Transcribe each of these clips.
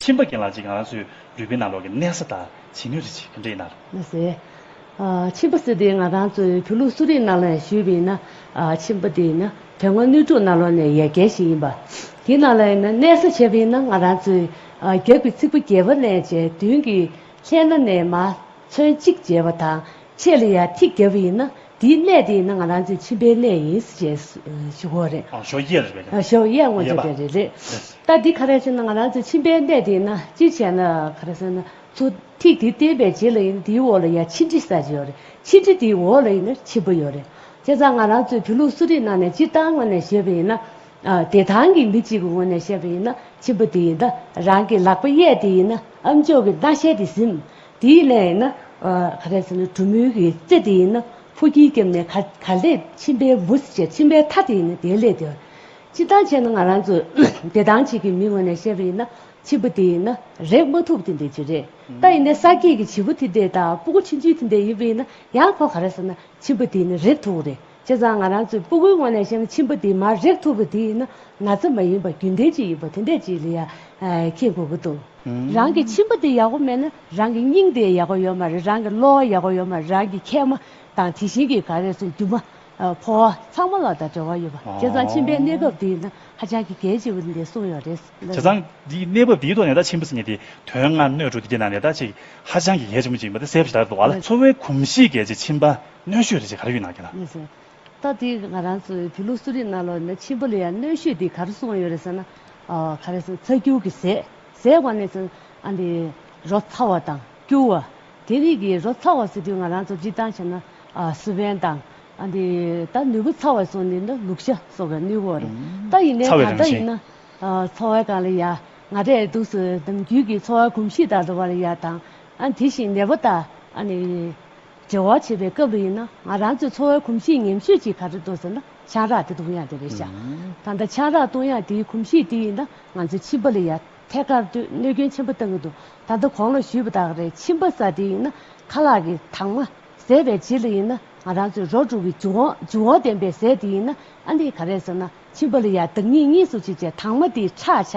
ཁྱིམ་པ་རྒན་ལགས་ཀྱིས་ང་རང་ཚོའི་རུས་པའི་ནང་ལོགས་ཀྱི་གནས་ས་དང་བྱེད་ནུས་རིགས་ཅིག་གི་འདྲེས་ན། མི་སེར། ཁྱིམ་པ་སི་དེ་ང་རང་ཚོའི་བོད་ལུགས་གསོ་རིག་ནང་ལོགས་ནས་བཞུད་པ་ཡིན་ན། ཁྱིམ་པ་དེ་ཡིན་ན་དོན་དངོས་ནུས་དྲུག་ནང་ལོགས་ནས་ཡལ་གས་ཤིག་ཡིན་པ། དེའི་ནང་ལོགས་ཡིན་ན་གནས་ས་བྱེད་པ་ཡིན་ན་ང་རང་ཚོའི་རྒྱབ་ཀྱི་ཚིགས་པ་རྒྱལ་བ་ལན་བྱས་བདུན་གྱི་ལྷས་ན་ནས་མ་ཚོན་གཅིག་བརྗེས་པ་དང་ཕྱེད་ལ་ཡར་ཐིག་བརྒྱབ་པ་ཡིན་ན་དེའི་གནས་དེ་ཡིན་ན་ང་རང་ཚོའི་ཁྱིམ་པའི་གནས་ཡིན་ཞེས་ཞུ་གོ་རེད། ཨ་ཞོ་ཡས་རེད་པས་ན། ཨ་ཞོ་ཡས་ངོ་རྒྱོབ་པའི་རེད། རེད། ད་འདི་ག་རེ་བྱས་ན་ང་རང་ཚོའི་ཁྱིམ་པའི་གནས་དེ་ཡིན་ན་ཅི་བྱས་ན་ག་རེ་བྱས་ན་ཚུར་ཐིག་དེ་བསྟན་པའི་རྗེས་ལ་ཡིན་ན་དེའི་འོག་ལ་ཡང་ཕྱི་འབྲི་ས་ཅི་ཡོད་རེད་ཕྱི་འབྲི་དེའི་འོག་ལ་ཡིན་ན་ཕྱི་འབུ་ཡོད་རེད། བྱས་ཙང་ང་རང་ཚོའི་བོད་ལུགས་གསོ་རིག་ནང་ནས་སྤྱིར་བཏང་ངོས་ནས་བཤད་པ་ཡིན་ན། བདེ་ཐང་གི་མི་གཅིག་གི་ངོས་ནས་བཤད་པ་ཡིན་ན་ཕྱི་འབུ་དེ་ཡིན་ན་རང་གི་ལག་པ་གཡས་དེ་ཡིན་ན་ཨ་མཆོག་གི་སྣ་ཞལ་དེ་ཟིན། དེའི་ལན་ཡིན་ན། ག་རེད་ཟེར་ན་གྲུ་མོའི་གི་རྩེ་དེ་ཡིན་ན་ཕོ་ཁྱིའི་སྐེམ་ནས་ག་ལས་མཆིན་པའི་འབུ་སྲི་བྱས་མཆིན་པའི་མཐའ་དེ་ཡིན་ན་དེའི་ལས་དེ། སྤྱི་བཏང་བྱས་ན་ང་རང་ཚོས་བདེ་ཐང་བྱེད་ཀྱི་མི་ངོས་ནས་བཤད་པ་ཡིན་ན་བྱིས་པ་དེ་ཡིན་ན་རེག་མ་ཐུབ་དེ་འདྲས་ཅིག་རེད། ད་ཡིན་ནའི་ས་སྐྱེས་ཀྱི་བྱིས་པོ་དེ་འདྲས་དང་སྤུ་གུ་ཆུན་ཆུན་དེ་འདྲས་ཡིན་པ་ཡིན་ན་ཡང་ཁོ་ག་རེད་ཟེར་ན་བྱིས་པ་དེ་ཡིན་ན་རེག་ཐུབ་རེད། བྱས་ཙང་ང་རང་ཚོའི་སྤུ་གུའི་སྔོན་ལས་ཤིང་ཆེན་པོ་དེ་མར་རེག་ཐུབ་པ་དེ་ཡིན་ན་ང་ཚོ་མ་ཡིན་པ་རྒྱུན་ལྡན་གཅིག་ཡིན་པ་དེ་འདྲས་ཅིག་ལ་ཡང་ཁེལ་དགོས་ཀྱི་འདུག་རང་གི་ཆེན་པོ་དེ་ཡག་པོ་མེད་ན་རང་གི་སྙིང་དེ་ཡག་པོ་ཡོད་མ་རེད་རང་གི་གློ་བ་ཡག་པོ་ཡོད་མ་རེད་རང་གི་མཁལ་མ་དང་དེ་བཞིན་གྱི་ག་རེ་སོང་རྒྱུ་མ་ཕོ་བ་ཚང་མ་ལ་ད་འབྲེལ་བ་ཡོད་པ་བྱས་ཙང་ཆེན་པོའི་གནས་བབས་དེ་ཡིན་ན་ཧ་ཅང་གི་གལ་ཆེ་བོ་འདི་གསུངས་ཡོད་རེད་བྱས་ཙང་འདིའི་གནས་བབས་འདིའི་ཐོག་ནས་ད་ཆེན་པོ་ཟེར་ནས་དེ་དོན་ལྔ་སྣོད་དྲུག་དེ་དེ་ནང་ནས་ད་ཅིག་ཧ་ཅང་གི་གལ་ཆེན་པོ་ཅིག་ཡིན་པ་དེ་གསལ་པོ་ཞིག་ལགས་འདུག་བ་ལ། འཚོ་བའི་གོམས་གཤིས་གལ་ཆེ་ཆེན་པ། གནོད་ཤོས་རེད་ཅེས་ག་རེ་ཡོད་ནང་རྒྱ་ནག། ད་ལྟའི་ང་རང་ཚོའི་བོད་ལུགས་གསོ་རིག་རྣ་ལོག་ནས་ཕྱིན་པ་ལ་ཡང་གནོད་ཤོས་དེ་ག་རེ་སོང་ཡོད་རེད་ཟེར་ན། ག་རེ་སོང་ཚ་སྐྱུར་གྱི་ཟས་ཟས་བ་ནས་བཟུང་ཨ་འདི་རོ་ཚ་བ་དང་སྐྱུར་བ་དེ་རིགས་ཀྱི་རོ་ཚ་བ་ཟེར་དུས་ང་རང་ཚོ་སྤྱིར་བཏང་བྱས་ན་སུ་བན་དང་ཨ་འདི་ད་ནུས་པོ་ཚ་བ་སོགས་ནི་ན་ལུག་ཤ་སོགས་ཀྱི་ནུས་བོ་རེད་ད་ཡིན་ནའི་ད་ལྟ་ཡིན་ན་འཚོ་བའི་སྒང་ལ་ཡ་ང་རེད་འདུག་སུ་ནམ་རྒྱུན་གྱི་འཚོ་བ་གོམས་གཤིས་དང་འགྲོ་བ་ལ་ཡ་དང་ཨ་དེ་བཞིན་ནད་པ་དང་ཨ་ནི། འབྲེལ་བ་བྱེད་པའི་སྐབས་རེ་ཡིན་ན་ང་རང་ཚོའི་འཚོ་བའི་གོམས་གཤིས་ཉམས་ཞིབ་ཅིག་ག་རེ་འདུག་ཟེར་ན་ཆང་རག་དེ་བཏུང་ཡག་དེ་རེད་བྱ། ད་ལྟ་ཆང་རག་བཏུང་ཡག་དེའི་གོམས་གཤིས་དེ་ཡིན་ན་ང་ཚོའི་མཆིན་པ་ལ་ཡ་ཐད་ཀར་ལྟོས་གནོད་སྐྱོན་ཆེན་པོ་བཏང་གི་འདུག་ད་ལྟ་གོང་ལ་ཞུས་པ་དག་རེད་མཆིན་པ་ཟ་དེ་ཡིན་ན་ཁ་ལག་གི་དྭངས་མ་ཟད་པའི་རྗེས་ལ་ཡིན་ན་ང་རང་ཚོའི་རོ་དྲུག་གི་འཇུ་འཇུ་འོང་ལྡན་པའི་ཟས་དེ་ཡིན་ན་ཨ་ནི་ག་རེ་ཟེར་ན་མཆིན་པ་ལ་ཡ་བདག་ཉིད་གཉིས་སུ་བྱེད་བྱེད་དངས་མ་དེའི་ཁྲག་ཆ་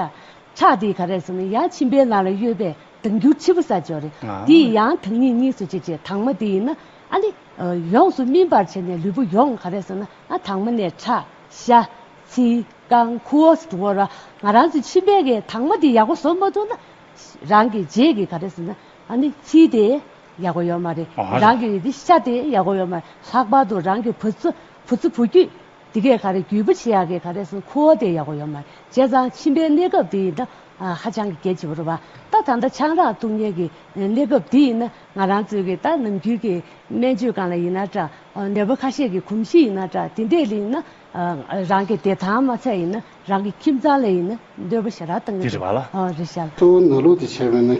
ཁྲག་དེ་ག་རེ་ཟེར་ན་ཡ་མཆིན་པའི་ནང་ལ་གཡོས་པས་དུ་འགྱུར་འཆི་བུ་ས་ཅོ་རི། དེ་ཡི་ཡང་དག་ཉིད་གཉིས་སུ་བྱེད་ཅེས་དྭངས་མ་དེ་ཡིན་ན་ཨ་ནི། ཡོངས་སུ་སྨིན་པར་བྱས་ནས་ལུས་པོ་ཡོངས་ག་རེ་སོང་ན་ཨ་དྭངས་མ་ནས་ཁྲག། ཤ། ཚིལ། རྐང། ཁུའོ་སོགས་བོར་བ་ང་རང་ཚོའི་མཆིན་པའི་གའི་དྭངས་མ་དེ་ཡག་པོ་བཟོ་མ་ཐུབ་ན། རང་གི་རྗེས་ཀྱི་ག་རེ་སོང་ན་ཨ་ནི་ཚིལ་དེ་ཡག་པོ་ཡོད་མ་རེད། རང་གི་དེ་ཤ་དེ་ཡག་པོ་ཡོད་མ་རེད་ལྷག་པར་དུ་རང་གི་བུ་ཚོ་བུ་ཚོ་བུ་རྒྱུད་དེ་གས་ག་རེ་རྒྱུས་པོ་ཆེ་ཡག་གི་ག་རེ་སོང་ཁུའོ་དེ་ཡག་པོ་ཡོད་མ་རེད་བྱས་ཙང་མཆིན་པའི་གནས་སྐབས་དེ་ཡིན་ན་ཧ་ཅང་གི་སྐད་ཅིག་བོར་བ། ད་ད་ལྟ་ཆང་རག་འཐུང་ཉེན་གྱི་གནས་སྐབས་འདི་ཡིན་ན་ང་རང་ཚོའི་གི་ད་ནམ་རྒྱུན་གྱི་སྨན་བཅོས་གང་ལ་ཡིན་ན་འདྲ། ནད་པ་ཁ་ཤས་ཀྱི་གོམས་གཤིས་ཡིན་ན་འདྲ་དེ་འདྲས་ལ་ཡིན་ན། རང་གི་བདེ་ཐང་མ་ཚད་ཡིན་ན་རང་གི་ཁྱིམ་ཚང་ལ་ཡིན་ན་འདོད་པ་ཞེ་དྲག་བཏང་གི་འདུག་རེད་བ། རེད་བྱ། གཙོ་བོ་ན་ལོ་དེ་བྱས་པས་ན།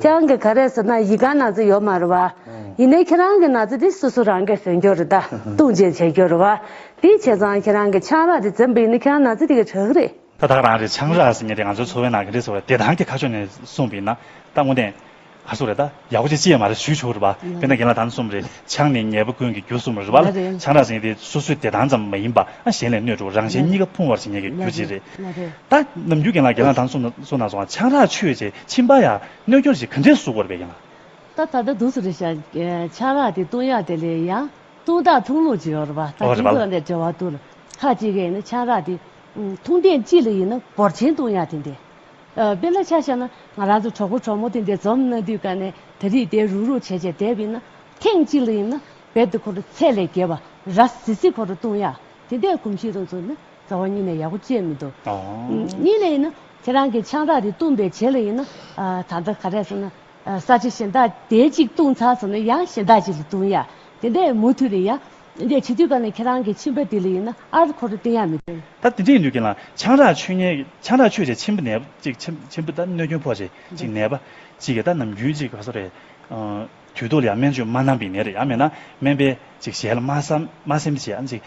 ཁྱེད་རང་གི་ག་རེ་ཟེར་ན་ཡི་ག་ན་ཚོ་ཡོད་མ་རེད་བ། ཡིན་ནའི་ཁྱེད་རང་གི་ན་ཚོ་དེ་སུ་སུ་རང་གས་ཟོན་རྒྱུ་རེད་ད་ཏུང་ཅན་བྱེད་རྒྱུ་རེད་བ། དེ་བྱས་ཙང་ཁྱེད་རང་གི་ཆང་རག་དེ་འཛིན་པ་ཡིན་ནའི་ཁྱེད་རང་ན་ཚོ་དེ་གས་གྲགས་རེད། ད་ད་རང་གི་ཆང་རག་ཟེར་ངེས་དེ་ང་ཚོའི་འཚོ་བའི་ནང་ག་རེ་ཟེར་བ་དེ་རང་གི་ཁ་ཕྱོགས་ནས་གསུངས་པ་ཡིན་ན་ད་དངོས་བདེན་ག་སུ་རེད་ད་ཡག་པོ་ཅིག་ཅི་ཡས་མ་རེད་ཞུས་ཆོག་རེད་བ་དཔེ་ན་རྒན་ལགས་ད་ནི་གསུམ་རེད། ཆང་ནི་ཉལ་པོ་ཀུན་གྱི་རྒྱུ་གསུམ་རེད་པ་ལ་ཆང་རག་ཟིན་དེ་སོ་སོའི་བདེ་ཐང་ཙམ་མ་ཡིན་པ་ཨང་གཞན་ལས་སྣོད་དྲུག་རང་གཞན་གཉིས་ཀ་ཕུང་བར་བྱེད་ཉེན་གྱི་རྒྱུ་གཅིག་རེད། ད་ནམ་རྒྱུན་གྱེན་ལངས་གྱེན་ལངས་དང་སོ་ནག་སོ་ནག་སོང་ཆང་རག་ཆོད་ཅེས་ཕྱིན་པ་ཡང་གནོད་སྐྱོར་ཞིག་ག་འདྲའི་གཟུགས་པོར་བས་ཀྱང། ད་ད་ལྟ་དུས་སུ་རེ་བཞག་ཆང་རག་དེ་བཏུང་ཡག་དེ་ལས་ཡང་བཏུང་སྟངས་འཐུང་ལུགས་ཅིག་ཡོད་རེད་པ་ད་དུས་སུ་འབྲེལ་བ་བསྡུར་ཁག་ཅིག་གིས་ནི་ཆང་རག་དེ་འཐུང་སྟངས་ཅི་ལ་ཡིན་ན་འབོར་ཆེན་བཏུང་ཡག་དེ་འདྲའི། དཔེ་ལ་ཆ་བཞག་ན་ང་རང་ཚོ་གྲོགས་པོ་གྲོགས་མོ་དེ་འདས་འཛོམས་གནང་དུས་ཀ་ནས་ད་རིས་དེ་རུག་རུག་བྱས་བྱས་བསྡད་པས་ན། ཐེངས་གཅིག་ལ་ཡིན་ན་བེད་དུ་ཁོ་རུ་ཚད་ལས་བརྒལ་བ་ར་བཟི་བཟི་ཁོ་རུ་བཏུང་ཡ། དེ་འདས་གོམས་གཤིས་རང་ཚུགས་ན་རྩ་བ་གཉིས་ནས་ཡག་པོ་སྤྱད་མི་འདུག་གཉིས་ལ་ཡིན་ན་ཁྱེད་རང་གི་ཆང་རག་རེ་བཏུང་པའི་བྱེད་ལ་ཡིན་ན། ད་ལྟ་ག་རེ་ཟེར་ན། ས་ཆ་གཞན་དག་དེ་གཅིག་བཏུང་ཚར་སོང་ན་ཡང་གཞན་དག་ཅིག་ལ་བཏུང་ཡ། དེ་འདས་མུ་མཐུད་ནས་ཡང་འདི་འདྲའི་བྱིས་དུས་སྐབས་ནས་ཁྱེད་རང་གི་ཁྱིམ་པ་ལྡི་ལི་ཡིན་ན་ཨ་རི་ཁོ་རེ་བསྟེན་ཡག་མི་འདུག། ད་དེ་འདྲའི་ལུས་ཀྱི་ལང་ཆང་རག་ཆོས་ཉན་ཆང་རག་ཆོས་བྱས་ཆེན་པོ་ནས་ཅིག་ཆེན་པོ་ད་གནོད་སྐྱོན་ཕོག་ཅིག་ཅིག་ནད་པ་ཅིག་གིས་ད་ནམ་རྒྱུན་ཅིག་ག་ས་རེད། དུས་ཐོག་ལ་ཡང་སྨན་བཅོས་མ་གནང་པའི་ནད་རེ་ཡང་མེད་ན་སྨན་པས་ཅིག་ཞལ་མ་སེམས་བྱས་ཨ་ཅིག་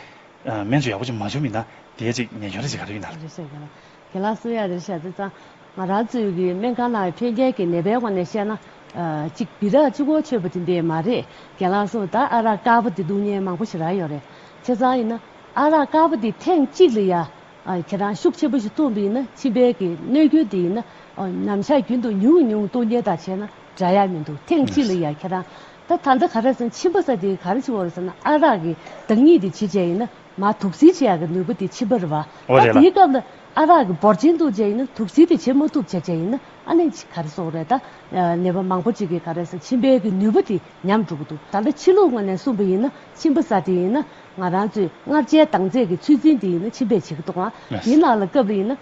སྨན་བཅོས་ཡག་པོ་ཅིག་མ་བྱུང་མེད་ན་དེས་ཅིག་ཉེས་སྐྱོན་རེ་ཅིག་ག་རེ་ཡོད་ན། དེ་ལ་སུ་ཡང་རེད་བཤད་ཚེ་ཙང་ང་རང་ཚོའི་གི་སྨན་ཁང་ནང་འཕེལ་རྒྱས་ཀྱི་ནད་པའི་དབང་ནས་བཤད་ན། གཅིག་སྦི་རག་ཆུ་ཁོག་ཆོད་པོ་དེ་འདི་མ་རེད་རྒན་ལགས་སོ་ད་ཨ་རག་དཀར་པོ་དེ་སྡུག་བསྔལ་མང་པོ་ཞིག་རག་ཡོད་རེད་ཚེ་ཙང་ཡིན་ན་ཨ་རག་དཀར་པོ་དེ་ཐེངས་གཅིག་ལ་ཡ་ཁྱེད་རང་ཤུགས་ཆེན་པོ་ཞིག་བཏུང་པ་ཡིན་ན་མཆིན་པའི་གི་གནོད་རྒྱུ་དེ་ཡིན་ན་ཉམས་བཞག་རྒྱུན་དུ་ཉུང་ཉུང་སྟུག་ཉལ་དང་བྱས་ན་འདྲ་ཡ་མི་འདུག་ཐེངས་གཅིག་ལ་ཡ་ཁྱེད་རང་ད་ད་ལྟ་ག་རེ་ཟེར་མཆིན་པ་ས་དེ་ག་རེ་བྱེད་འོ་རེ་ཟེར་ན་ཨ་རག་གི་བདག་ཉིད་དེ་བྱེད་བྱས་ཡིན་ན། མ་དུག་སེལ་བྱེད་ཡག་གི་ནུས་པ་དེ་མཆིས་པར་བ། ཨོ་རེད་ད་ལ། དེའི་སྐབས་ལ་ཨ་རག་གི་འབོར་ཆེན་འདུག་བྱས་ཡིན་ན་དུག་སེལ་དེ་བྱེད་མ་ཐུབ་བྱས་བྱས་ཡིན་ན་ཨ་ནེ་ག་རེ་སོགས་རེད་ད། ནད་པ་མང་པོ་གཅིག་གིས་ག་རེ་ཟ་མཆིན་པའི་གི་ནུས་པ་དེ་ཉམས་འགྲོ་གི་འདུག་ད་ལ་ཕྱི་ལུགས་ངོས་ནས་གསུངས་པ་ཡིན་ན་མཆིན་པ་ཟ་དེ་ཡིན་ན་ང་རང་ཚོས་མངར་ཆའི་དྭངས་རྩེད་གི་ཚུལ་འཛིན་དེ་ཡིན་ན་མཆིན་པས་བྱེད་གི་འདུག་ཨང་དེའི་ནང་ལ་སྐབས་རེ་ཡིན་ན་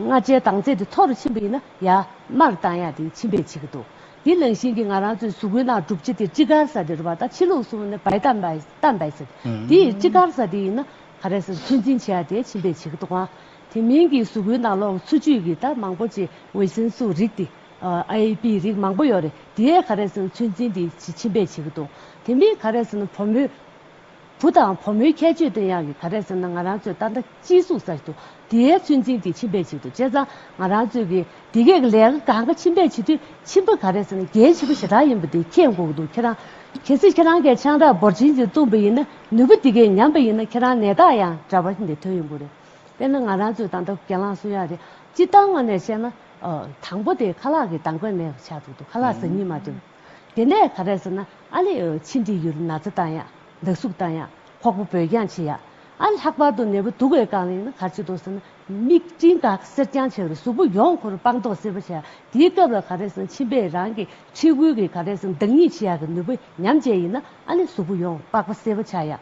མངར་ཆའི་དྭངས་རྩེད་དེ་ཐོག་རུ་ཕྱིན་པ་ཡིན་ན་ཡར་མར་བཏང་ཡག་དེ་མཆིན་པས་བྱེད་གི་འདུག་དེ་ནང་བཞིན་གྱི་ང་རང་ཚོས་གཟུགས་པོའི་ནང་གྲུབ་བྱེད་དེ་ཅི་དགར་ཟ་དེ་རུ་བ་ད་ཕྱི་ལུགས་གསུངས་ན་བའི་ད་མའི། ལྟར་འདའི་ཟེར། དེ་ཡི་ཅི་དགར་ས་དེ་ཡིན་ན། ག་རེ་ཟེར་ཚོད་འཛིན་བྱས་ཏེ་ཕྱིན་པའི་བྱེད་ཀྱི་དོགས་པ། དེ་མིན་གྱི་གཟུགས་སྐུའི་ནང་ལོགས་འཚོ་བཅུད་ཀྱི་དར་མང་པོ་ཅི་འོད་ཟེར་སུ་རིགས་ཏེ། AAP རིགས་མང་པོ་ཡོད་རེད་དེའི་ག་རེ་ཟེར་ཚོད་འཛིན་དེ་ཕྱིན་པའི་བྱེད་ཀྱི་དོགས། དེ་མིན་ག་རེ་ཟེར་ན་བུ་མོའི་བུ་དང་བུ་མོའི་ཁྱད་ཆོས་དེ་ཡང་གི་ག་རེ་ཟེར་ན་ང་རང་ཚོའི་ཏང་ལྟ། སྤྱིའི་གཟུགས་གསར་དུ་དེའི་ཚོད་འཛིན་དེ་ཕྱིན་པས་བྱེད་དོ་དཔྱད་བཟང་ང་རང་ཚོས་ཀྱི་དེ་གས་ཀྱི་ལས་ཀ་གང་ག་ཕྱིན་པས་བྱེད་དུས་ཕྱིན་པ་ག་རེ་ཟེར་ན་རྒྱལ་བྱེད་པོ་ཞེ་དྲག་ཡིན་པ་དེ་ཁྱེད་མགོ་གི་འདུག་ཁྱེད་རང་གལ་སྲིད་ཁྱེད་རང་གས་ཆང་རག་འབོར་ཆེན་ཅིག་བཏུངས་པ་ཡིན་ན་ནུས་པ་དེ་གས་ཉམས་པ་ཡིན་ན་ཁྱེད་རང་ནད་རྟགས་ཡང་འདྲ་བ་འདི་ཐོན་ཡོང་གི་རེད་དཔེར་ན་ང་རང་ཚོས་ད་ལྟ་གྱེན་ལངས་སུ་ཡག་རེད་སྤྱི་སྟངས་ངོས་ནས་བཤད་ན། དང་པོ་དེ་ཁ་ལག་གི་དང་པོ་ནས་ཆགས་འདུག་ཁ་ལག་ཟ་ཉིན་མ་ཐོན། དེ་ནས་ད་རེས་ན་ཨ་ལི་ཨོ་ཕྱི་འགྲིག་ཡུལ་ན་ཚ་བཏང་ཡ་འདག་སུག་བཏང་ཡ་ཁོག་པོ་འབོལ་རྐྱང་བྱེད་ཡ་ཨ་ལྷག་པར་དུ་ནད་པོ་དུག་བའི་རྐང་གླིང་ན་གར་བྱེད་དོ་ཟེར་ན་མིག་སྤྲིན་འགག་གསེར་རྐྱང་བྱེད་རུ་གཟུགས་པོ་ཡོངས་འཁོར་སྤང་རྟོགས་སེལ་བ་བྱེད་ཡ་དེའི་སྐབས་ལ་ག་རེས་ན་མཆིན་པས་རང་གི་མཁྲིས་ཁུལ་གྱི་ག་རེས་ན་འདག་སྙིགས་བྱེད་ཡ་གི་ནུས་པ་ཉམས་བཅས་ཡིན་ན་ཨ་ལི་གཟུགས་པོ་ཡོངས་པགས་པ་སེལ་བ་བྱ་ཡ་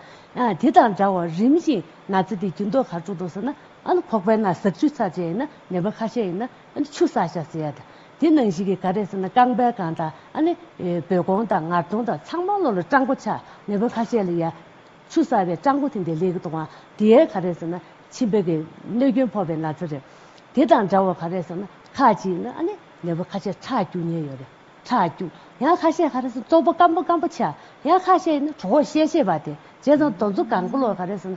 དེ་དང་འདྲ་བར་རིམ་བཞིན་ན་ཚ་དེ་རྒྱུན་ལྡོག་གར་འགྲོ་དོ་ཟེར་ན་ཨ་ལི་ཁོག་པའི་ན་ཟག་ཆུ་ཚགས་བྱེད་ཡ་ནད་པ་ཁ་ཤས་ཡིན་ན་ཆུ་ས་ཤ་ཟེར་ཡ་དང་དེ་ནང་བཞིན་གྱི་ག་རེ་ཟེར་ན་རྐང་སྦལ་གང་དང་བོད་གོང་དང་ངར་དོང་དང་ཚང་མ་ལོ་ལ་སྤྲང་པོ་ཆགས་མེས་པོ་ཁ་ཤས་ལ་ཡ། ཆུ་ས་བའི་སྤྲང་པོ་དེ་འདི་ལེགས་གཏོང་བ་དེ་ཡའི་ག་རེ་ཟེར་ན་ཕྱི་འབོད་ཀྱི་གནོད་སྐྱོན་ཕོག་པའི་ན་ཚ་རེད། དེ་དང་འདྲ་བོ་ག་རེ་ཟེར་ན་ཁ་ཅིག་ན་ཨ་ནི་མེས་པོ་ཁ་ཤས་ཁྲག་སྐྱུག་ཉེན་ཡོད་རེད་ཁྲག་སྐྱུག་ཡང་ཁ་ཤས་ག་རེ་ཟེར་ན་ཙོག་པོ་སྐམ་པོ་སྐམ་པོ་ཆགས་ཡང་ཁ་ཤས་ཡིན་ན་གྲོགས་ཤེས་ཤེས་པ་དེ་བྱས་ཙང་རྡོ་མཚོ་གང་པོ་ལོ་ག་རེ་ཟེར་ན་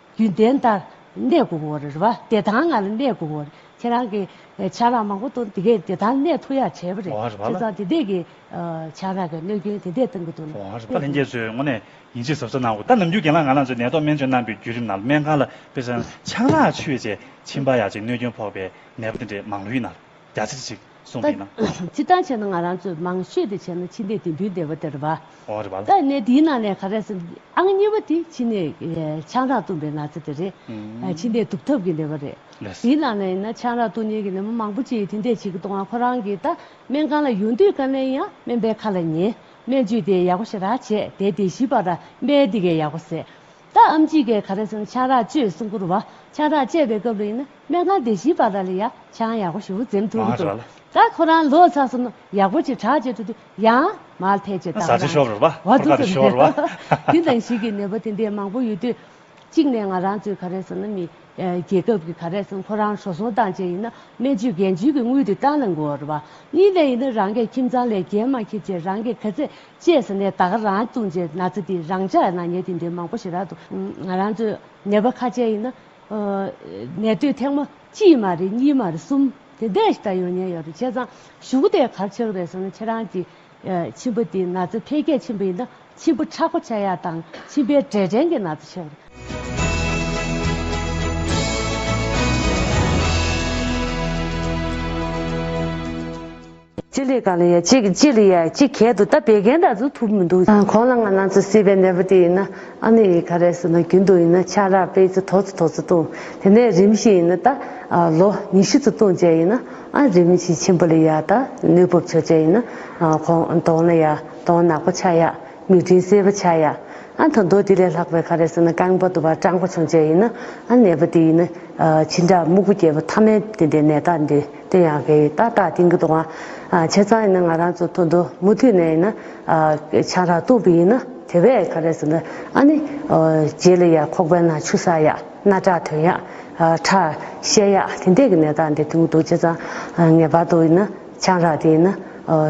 རྒྱུན་ལྡན་ལྟར་གནས་དགོས་བོ་རེད་བ། བདེ་ཐང་ངང་ལ་གནས་དགོས་བོ་རེད། ཁྱེད་རང་གི་ཆང་རག་མང་བོ་དང་དེ་གས་བདེ་ཐང་གནས་ཐུ་ཡག་བྱས་བོ་རེད། ཁྱེད་ཚང་དེ་འད་གི་ཆང་རག་གི་གནོད་སྐྱོན་དེ་འད་གཏང་གི་འདུག་ན། བཀའ་ལྷན་རྒྱས་ཚོས་ངོ་ནས་ཡིན་ཆེས་ཟབ་ས་གནང་དགོས་ད་ནམ་རྒྱུན་རྒན་ལགས་ང་རང་ཚོའི་ནད་ཐོག་སྨན་བཅོས་གནང་པའི་བརྒྱུད་རིམ་ནང་ལ་སྨན་ཁང་ལ་དཔེ་བཟང་ཆང་རག་ཆུ་བེད་བཅས་མཆིན་པ་ཡག་ཅིག་གནོད་སྐྱོན་ཕོག་པའི་ནད་པ་དེ་འད་མང་ལོ་ཡི་ནར། རྒྱ་ཆེར་ཞིག་གསུངས་པས་ན། ད་ཅི་ལྟར་བྱས་ན་ང་རང་ཚོས་མང་ཤོས་དེ་བྱས་ན་ཕྱི་ནས་དེ་འདུལ་བདེ་བ་དེར་བབས། ད་གནས་དེའི་ནང་ནས་ག་རེ་ཟེར་ཨང་གཉིས་པ་དེ་ཕྱི་ནས་ཆང་རག་བཏུངས་པའི་ན་ཚ་དེ་རེད། ཕྱི་ནས་དུག་ཐབས་ཀྱི་ནད་པ་རེད། དེའི་ནང་ནས་ཡིན་ན་ཆང་རག་བཏུངས་ཉེན་གྱི་ནད་མ་མང་པོ་ཅི་དེ་འདྲས་བྱེད་ཀྱི་གཏོང་བ་ཁོ་རང་གིས་ད་སྨན་ཁང་ལ་ཡོང་དུས་དཀའ་ལས་ཡང་སྨན་པའི་ཁ་ལ་ཉེ། སྨན་བཅོས་དེ་ཡག་པོ་ཞེ་དྲག་བྱས་དེ་དེ་ཞིབ་པར་ར་སྨན་འདི་གས་ཡག་པོ་ཟེར། རྟ་ཨམ་ཅི་ཀའི་ག་རེ་སོང་ཆང་རག་བཅོས་གསུང་བསྐུར་བ་ཆང་རག་བཅད་པའི་སྐབས་ལ་ཡིན་ན་སྨན་ཁང་སྡེ་བཞིའི་པར་ར་ལས་ཡ་ཆང་ཡག་པོ་ཞུ་འཛེམ་ཐུབ་ཀི་འདུག་ད་ཁོ་རང་ལོ་ཚགས་སོང་ན་ཡག་པོ་ཅིག་གྲགས་བཅད་འགྲོ་དུས་ཡང་མར་ཐལ་ཅེས་བཏགས་པ་རང་གི་བ་དུ་ཙམ་རེད་ལ། དེ་འདྲ་ཞིག་གི་ནད་པ་དེ་འདྲས་མང་པོ་ཡོད་དུས། གཅིག་ནས་ང་རང་ཚོའི་ག་རེ་སོང་ན་མི་རྒྱལ་ཁབ་ཀྱི་ག་རེ་སོང་ཁོ་རང་ཧྲོ་སོང་སྟངས་ཅན་ཡིན་ན་སྨན་བཅོས་འགན་བཅོལ་གྱི་དངུལ་དེ་ཏང་ལ་འགོར་བ། གཉིས་ནས་ཡིན་ན་རང་གི་ཁྱིམ་ཚང་ལས་འགན་མ་འཁྱེར་ཆེད་རང་གི་ག་ཚད་ཅེས་ཟེར་ནས་ད་ག་རང་བཙུགས་རྗེས་ན་ཚ་འདི་རང་ཅག་ནང་ཉལ་ཏིང་འདི་མང་པོ་ཞིག་རག་འདུག་ང་རང་ཚོའི་ནད་པ་ཁ་ཆེ་ཡིན་ན། ནད་དུས་ཐེངས་མ་གཅིག་མ་རེད་གཉིས་མ་རེད་གསུམ་དེ་འད་ཞིག་ད་ཡོང་ཉལ་ཡོད་རེད་བྱས་ཙང་གཞུག་འདི་གར་ཆག་རེད་ཟེར་ན་ཁྱེད་རང་གི་མཆིན་པ་འདི་ན་ཚ་འཕེལ་རྒྱས་ཆེན་པོ་ཡིན་ན་མཆིན་པ་ཁྲག་པ་ཆག་ཡག་དང་མཆིན་པའི་འབྲས་སྐྲན་གྱི་ན་ཚ་ཆག་རེད། སྤྱི་ལེ་གང་ལ་ཡ་གཅིག་སྤྱི་ལེ་ཡ་གཅིག་གལ་དུ་ད་བད་ཀན་འདྲ་ཚུ་ཐུབ་མི་འདུག། གོང་ལ་ང་ནང་ཚུ་སྲིད་པའི་ནད་པོ་དེ་ཡིན་ན་ཨ་ནི་ཡི་ག་རེད་ཟེར་ན་རྒྱུན་དུ་ཡིན་ན་ཆ་རག་པས་ཚུ་ཐོག་ཚུ་ཐོག་ཚུ་བཏུང་དེ་ནས་རིམ་བཞིན་ཡིན་ན་ད་ལོ་ཉི་བཞི་ཚུ་བཏུང་བྱས་ཡིན་ན་ཨ་རིམ་བཞིན་ཆེན་པོ་ལ་ཡ་ད་ནུས་བབ་ཆོ་བྱས་ཡིན་ན་གོང་དོང་ལ་ཡ་དོང་ནག་པོ་ཆ་ཡ་མིག་སྤྲིན་སེར་པོ་ཆ་ཡ་ཨ་ད་མདོ་དེ་ལས་ལྷག་པའི་ག་རེ་ཟེར་ན་རྐང་པ་དུ་བ་སྐྲང་པོ་བྱུང་བྱས་ཡིན་ན་ཨ་ནད་པོ་དེ་ཡིན་ན་ཕྱི་འདྲ་སྨུག་པོ་རྒྱལ་པོ་ཐ་མལ་དེ་འདྲའི་ནད་རྟགས་འདི། དེ་ཡང་དགེ་བའི་རྟགས་དག་དེང་གི་དུང་བ་ཁྱེད་ཚང་ཡིན་ན་ང་རང་ཚོ་ཐུག་འདུག་མུ་མཐུད་ནས་ཡིན་ན་ཆང་རག་བཏུང་བུ་ཡིན་ན་དེ་བས་ག་རེ་ཟེར་ན་ཨ་ནི་རྗེས་ལ་ཡར་ཁོག་པའི་ནང་ཆུ་ཟ་ཡག་སྣ་ཁྲག་ཐོན་ཡག་ཁྲག་བཤལ་ཡག་དེ་འདྲས་ཀྱི་ནད་རྟགས་འདི་ཐུག་འདུག་ཁྱེད་ཚང་ངེས་པར་དུ་ཡིན་ན་ཆང་རག་དེ་ཡིན་ན་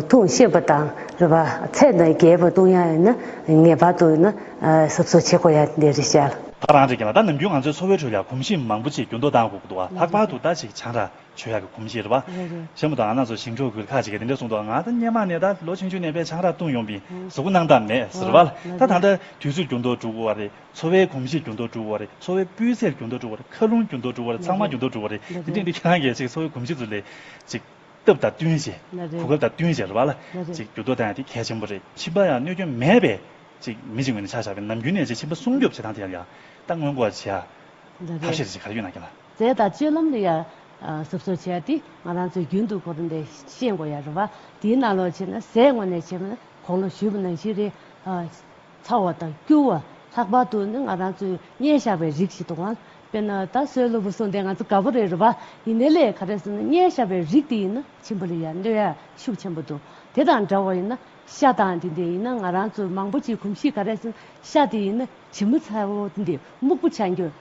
འཐུང་བཤད་པ་དང་རེ་བ་ཚད་དང་རྒྱས་པར་བཏུང་ཡག་ཡིན་ན་ངེས་པར་དུ་ཡིན་ན་ཟབ་གསོ་བྱེད་དགོས་ཡག་དེ་རེ་བཤད། ཐག་རང་རེད་ཀྱང་ད་ནམ་རྒྱུན་ང་ཚོའི་འཚོ་བའི་ཁྲོད་ལ་གོམས་གཤིས་མང་པོ་ཅིག་འགྱུར་ལྡོག་གཏང་དགོས་ཀྱི་འདུག་ལྷག་པར་དུ་ད་ཅིག་ཆང་རག། ཆོས་ཡག་གི་གོམས་གཤིས་རེད་བ། ཤ་མོ་དང་ཨ་ན་ཚོ་ཞིང་འབྲོག་ཁུལ་ཁག་ཅིག་གི་དེ་འདྲའི་གསུང་དོག་ང་ད་སྙན་མ་ནས་ད་ལོ་ཆུང་ཆུང་ནས་པའི་ཆང་རག་བཏུང་ཡོང་པའི་ཟུག་གུ་སྣང་དག་མེད་ཟེར་བ་ལ་ད་ད་ལྟ་དུས་ཚོད་རྒྱུ་འདོག་འགྲུག་བ་རེད་འཚོ་བའི་གོམས་གཤིས་རྒྱུ་འདོག་འགྲུག་བ་རེད་འཚོ་བའི་སྤུས་ཚད་རྒྱུ་འདོག་འགྲུག་བ་རེད་མཁའ་རླུང་རྒྱུ་འདོག་འགྲུག་བ་རེད་ཚང་མ་རྒྱུ་འདོག་འགྲུག་བ་རེད་དེ་འདྲས་འདི་ཁྱེད་རང་གི་ཅིག་འཚོ་བའི་གོམས་གཤིས་ཚོ་ལས་ཅིག་སྟབས་དང་བསྟུན་ཞེ་གོ་སྐབས་དང་བསྟུན་ཞེ་རེད་བ་ལ་ཅིག་རྒྱུ་འདོག་ད་ཡང་དེ་གལ་ཆེན་པོ་རེད་ཕྱི་པ་ཡང་གནོད་སྐྱོན་མེད་པའི་ཅིག་མི་ཅིག་ངོས་ནས་ཆ་བཞག་པའི་ནམ་རྒྱུན་ནས་ཅིག་ཕྱི་པ་སྲུང་སྐྱོབ་བྱེད་སྟངས་དེ་ཡང་ཡང་ད་སྔོན་འགོག་བྱེད་ཐབས་ཤེས་དེ་ཅིག་ག་རེ་ཡོད་ན་གྱི་ལ། རྫས་དང་སྤྱོད་ལམ་དུ་ཡང། གཟུགས་སོགས་བྱས་ཏེ་ང་རང་ཚོའི་རྒྱུན་དུ་གོ་དོན་དེ་ཤེས་དགོས་ཡ་རེད་བ། དེའི་ནང་ལོགས་བྱས་ན་ཟས་དངོས་ནས་བྱས་པ་ན་གོང་ལོ་བཞི་བ་ནང་བཞི་རེ། ཚ་བ་དང་སྐྱུར་བ་ལྷག་པར་དུ་ནི་ང་རང་ཚོའི་བསྙལ་བཞག་པའི་རིགས་ཤིག་དང། དཔེར་ན་ད་གཟོད་གློ་བུར་སོང་དེ་ང་ཚོ་དགའ་བོ་རེད་རེད་བ། ཡིན་ནའི་ལས་ག་རེ་ཟེར་ན་བསྙལ་བཞག་པའི་རིགས་དེ་ཡིན་ན་ཆེན་པོ་ལས་ཡང་གནོད་ཡ་ཤུགས་ཆེན་པོ་འདུག་དེ་དང་འདྲ་བ་ཡིན་ན་ཤ་དང་དེ་འདི་ཡིན་ན་ང་རང་ཚོའི་མང་པོ་ཅིག་གོམས་གཤིས་ག་རེ་ཟེར་ན་ཤ་དེ་ཡིན་ན་བྱི་མོ་ཚ་བོ་དེ་འདི་སྨུག་པོ་ཆགས་འགྱུར།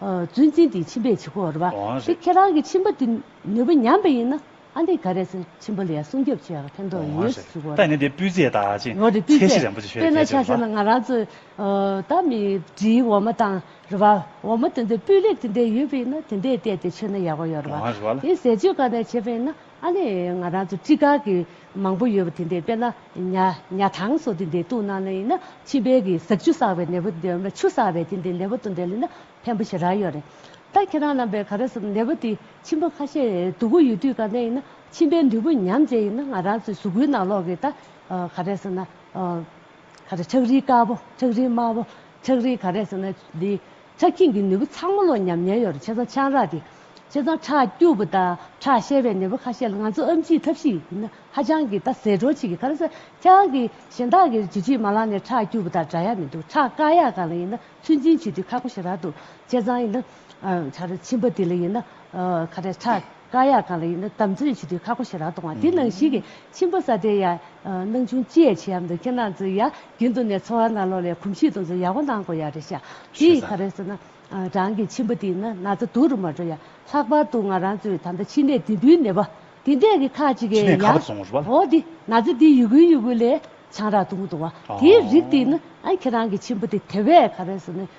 བརྫུན་བཙན་དེའི་མཆིན་པས་བྱི་གོར་བ། འོང་རེད། ཁྱེད་རང་གི་མཆིན་པ་དེ་ནུས་པ་ཉམས་པ་ཡིན་ན་ཨ་ནི་ག་རེ་ཟེར་མཆིན་པ་ལ་ཡང་སྲུང་སྐྱོབ་བྱེད་ཡག་ཕན་ཐོག་འོང་ཡོད་རེད། བྱི་གོར་བ། ད་ནི་དེ་སྤུས་ཚད་དག་ཅིང་འོང་རེད་སྤུས་ཚད་ཚད་གཞི་རན་པོ་ཆེ་ཞིག་ཡོད་དཔེར་ན་ཆ་ཟེར་ན་ང་རང་ཚོའི་ད་མི་འབྲིའི་འོ་མ་དང་རེད་བ། འོ་མ་དེ་འདྲའི་སྤུས་ལེགས་དེ་འདྲའི་ཡོད་པ་ཡིན་ན་དེ་འདྲས་བལྟས་ཏེ་མཆོད་ན་ཡག་པོ་ཡོད་རེད་བ། འོང་རེད་བ་ལ། དེ་ཟས་སྤྱོད་ག་ནས་བྱེད་པ་ཡིན་ན་ཨ་ནི་ང་རང་ཚོ་སྤྲི་དཀར་གྱི། མང་པོ་ཡོད་པ་དེ་འདི་དཔེར་ན་ཉ། ཉ་ཐང་སོགས་དེ་འདི་བཏུང་ན་ལ་ཡིན་ན་ཕྱི་པའི་གི་ཟག་ཆུ་བསགས་པའི་ནད་པོ་དེ་འོ་ན་ཆུ་བསགས་པའི་དེ་འདི་ནད་པོ་དང་འབྲེལ་ལ་ཡིན་ན་ཕན་པོ་ཞེ་རགས་ཡོད་རེད། ད་ཁྱེད་རང་རྣམས་པས་ག་རེ་བསམ་ནད་པོ་དེ་མཆིན་པ་ཁ་ཤས་དུག་གུ་ཡོད་དུས་ག་ནད་ཡིན་ན་མཆིན་པའི་འདུས་པོ་ཉམས་བྱེད་ཡིན་ན་ང་རང་ཚོའི་གཟུགས་པོའི་ནང་ལོག་གི་ད་ག་རེ་བསམ་ན་ག་རེ་ཁྲག་རིལ་དཀར་པོ་ཁྲག་རིལ་དམར་པོ་ཁྲག་རིལ་ག་རེ་བསམ་ན་འདི་ཆ་སྐྱིང་གི་ནུས་པ་ཚང་མ་ལོ་ཉམས་ཉེན་ཡོར་ཆེ་ཚང་ཆང་རག་དེ་ཆེ་ཚང་ཁྲག་སྐྱུར་པོ་དང་ཁྲག་བཤལ་བའི་ནུས་པ་ཁ་ཤས་ལ་ང་ཚོ་ཨམ་ཆིའི་ཐབས་ཤེས་ཡིན་ན་ཧ་ཅང་གི་ད་ཟས་དྲོ་བྱེད་ཀྱི་ག་རེ་ཟ་ཁྱེད་རང་གིས་གཞན་དག་གི་ཇུ་ཆིའི་མ་ལག་ནས་ཁྲག་སྐྱུར་པོ་དང་འདྲ་ཡ་མི་འདུག་ཁྲག་དཀར་ཡག་གང་ལ་ཡིན་ན་ཚོད་འཛིན་བྱེད་དུས་ཁག་པོ་ཞིག་རག་འདུག་ཁྱེད་ཚང་ཡིན་ན་ཆར་ཕྱིན་པ་དེ་ལ་ཡིན་ན། ཁ་བྲལ་ཁྲ་དཀར་ཡག་གང་ལ་ཡིན་ན་དམ་འཛིན་བྱེད་དུས་ཁ་ཁོ་ཞེ་རག་གཏོང་བ་དེ་ནང་ཞིག་གི་ཁྱིམ་པ་ས་དེ་ཡ་སྣང་ཆུང་ཅི་ཡ་བྱེད་ཡམ་འདུག་ཁྱེད་རྣམས་ཚོ་ཡ་རྒྱུན་དུ་ནས་འཚོ་བ་ན་ལོ་ལེ་གོམ་གཤིས་དང་ཚོ་ཡ་བོ་གནང་དགོས་ཡ་རེད་ཤག་དེ་ཡི་ཁ་རེད་ཟེར་ན་རང་གི་ཁྱིམ་པ་དེ་ཡིན་ན་ན་ཚ་དུག་རུ་མ་འགྲོ་ཡ་ལྷག་པར་དུ་ང་རང་ཚོའི་ད་ལྟ་ཕྱི་ནས་དེ་འདུལ་ནས་བ་དེ་འདས་གི་ཁག་ཅིག་ཕྱི་གིས་ནས་ཡ་ཁ་བར་སོང་བ་རེད་བ། ཧོ་དེ་ན་ཚ་དེ་ཡུ་གུ་ཡུ་གུ་ལས་ཆང་རག་དུག་མདོང་བ་དེའི་རིགས་དེ་ཡིན་ཨ་ཁྱེད་རང་གི་ཁྱིམ་པ་དེ་དེ་བས་ཁ་རེད་ཟེར་ནས་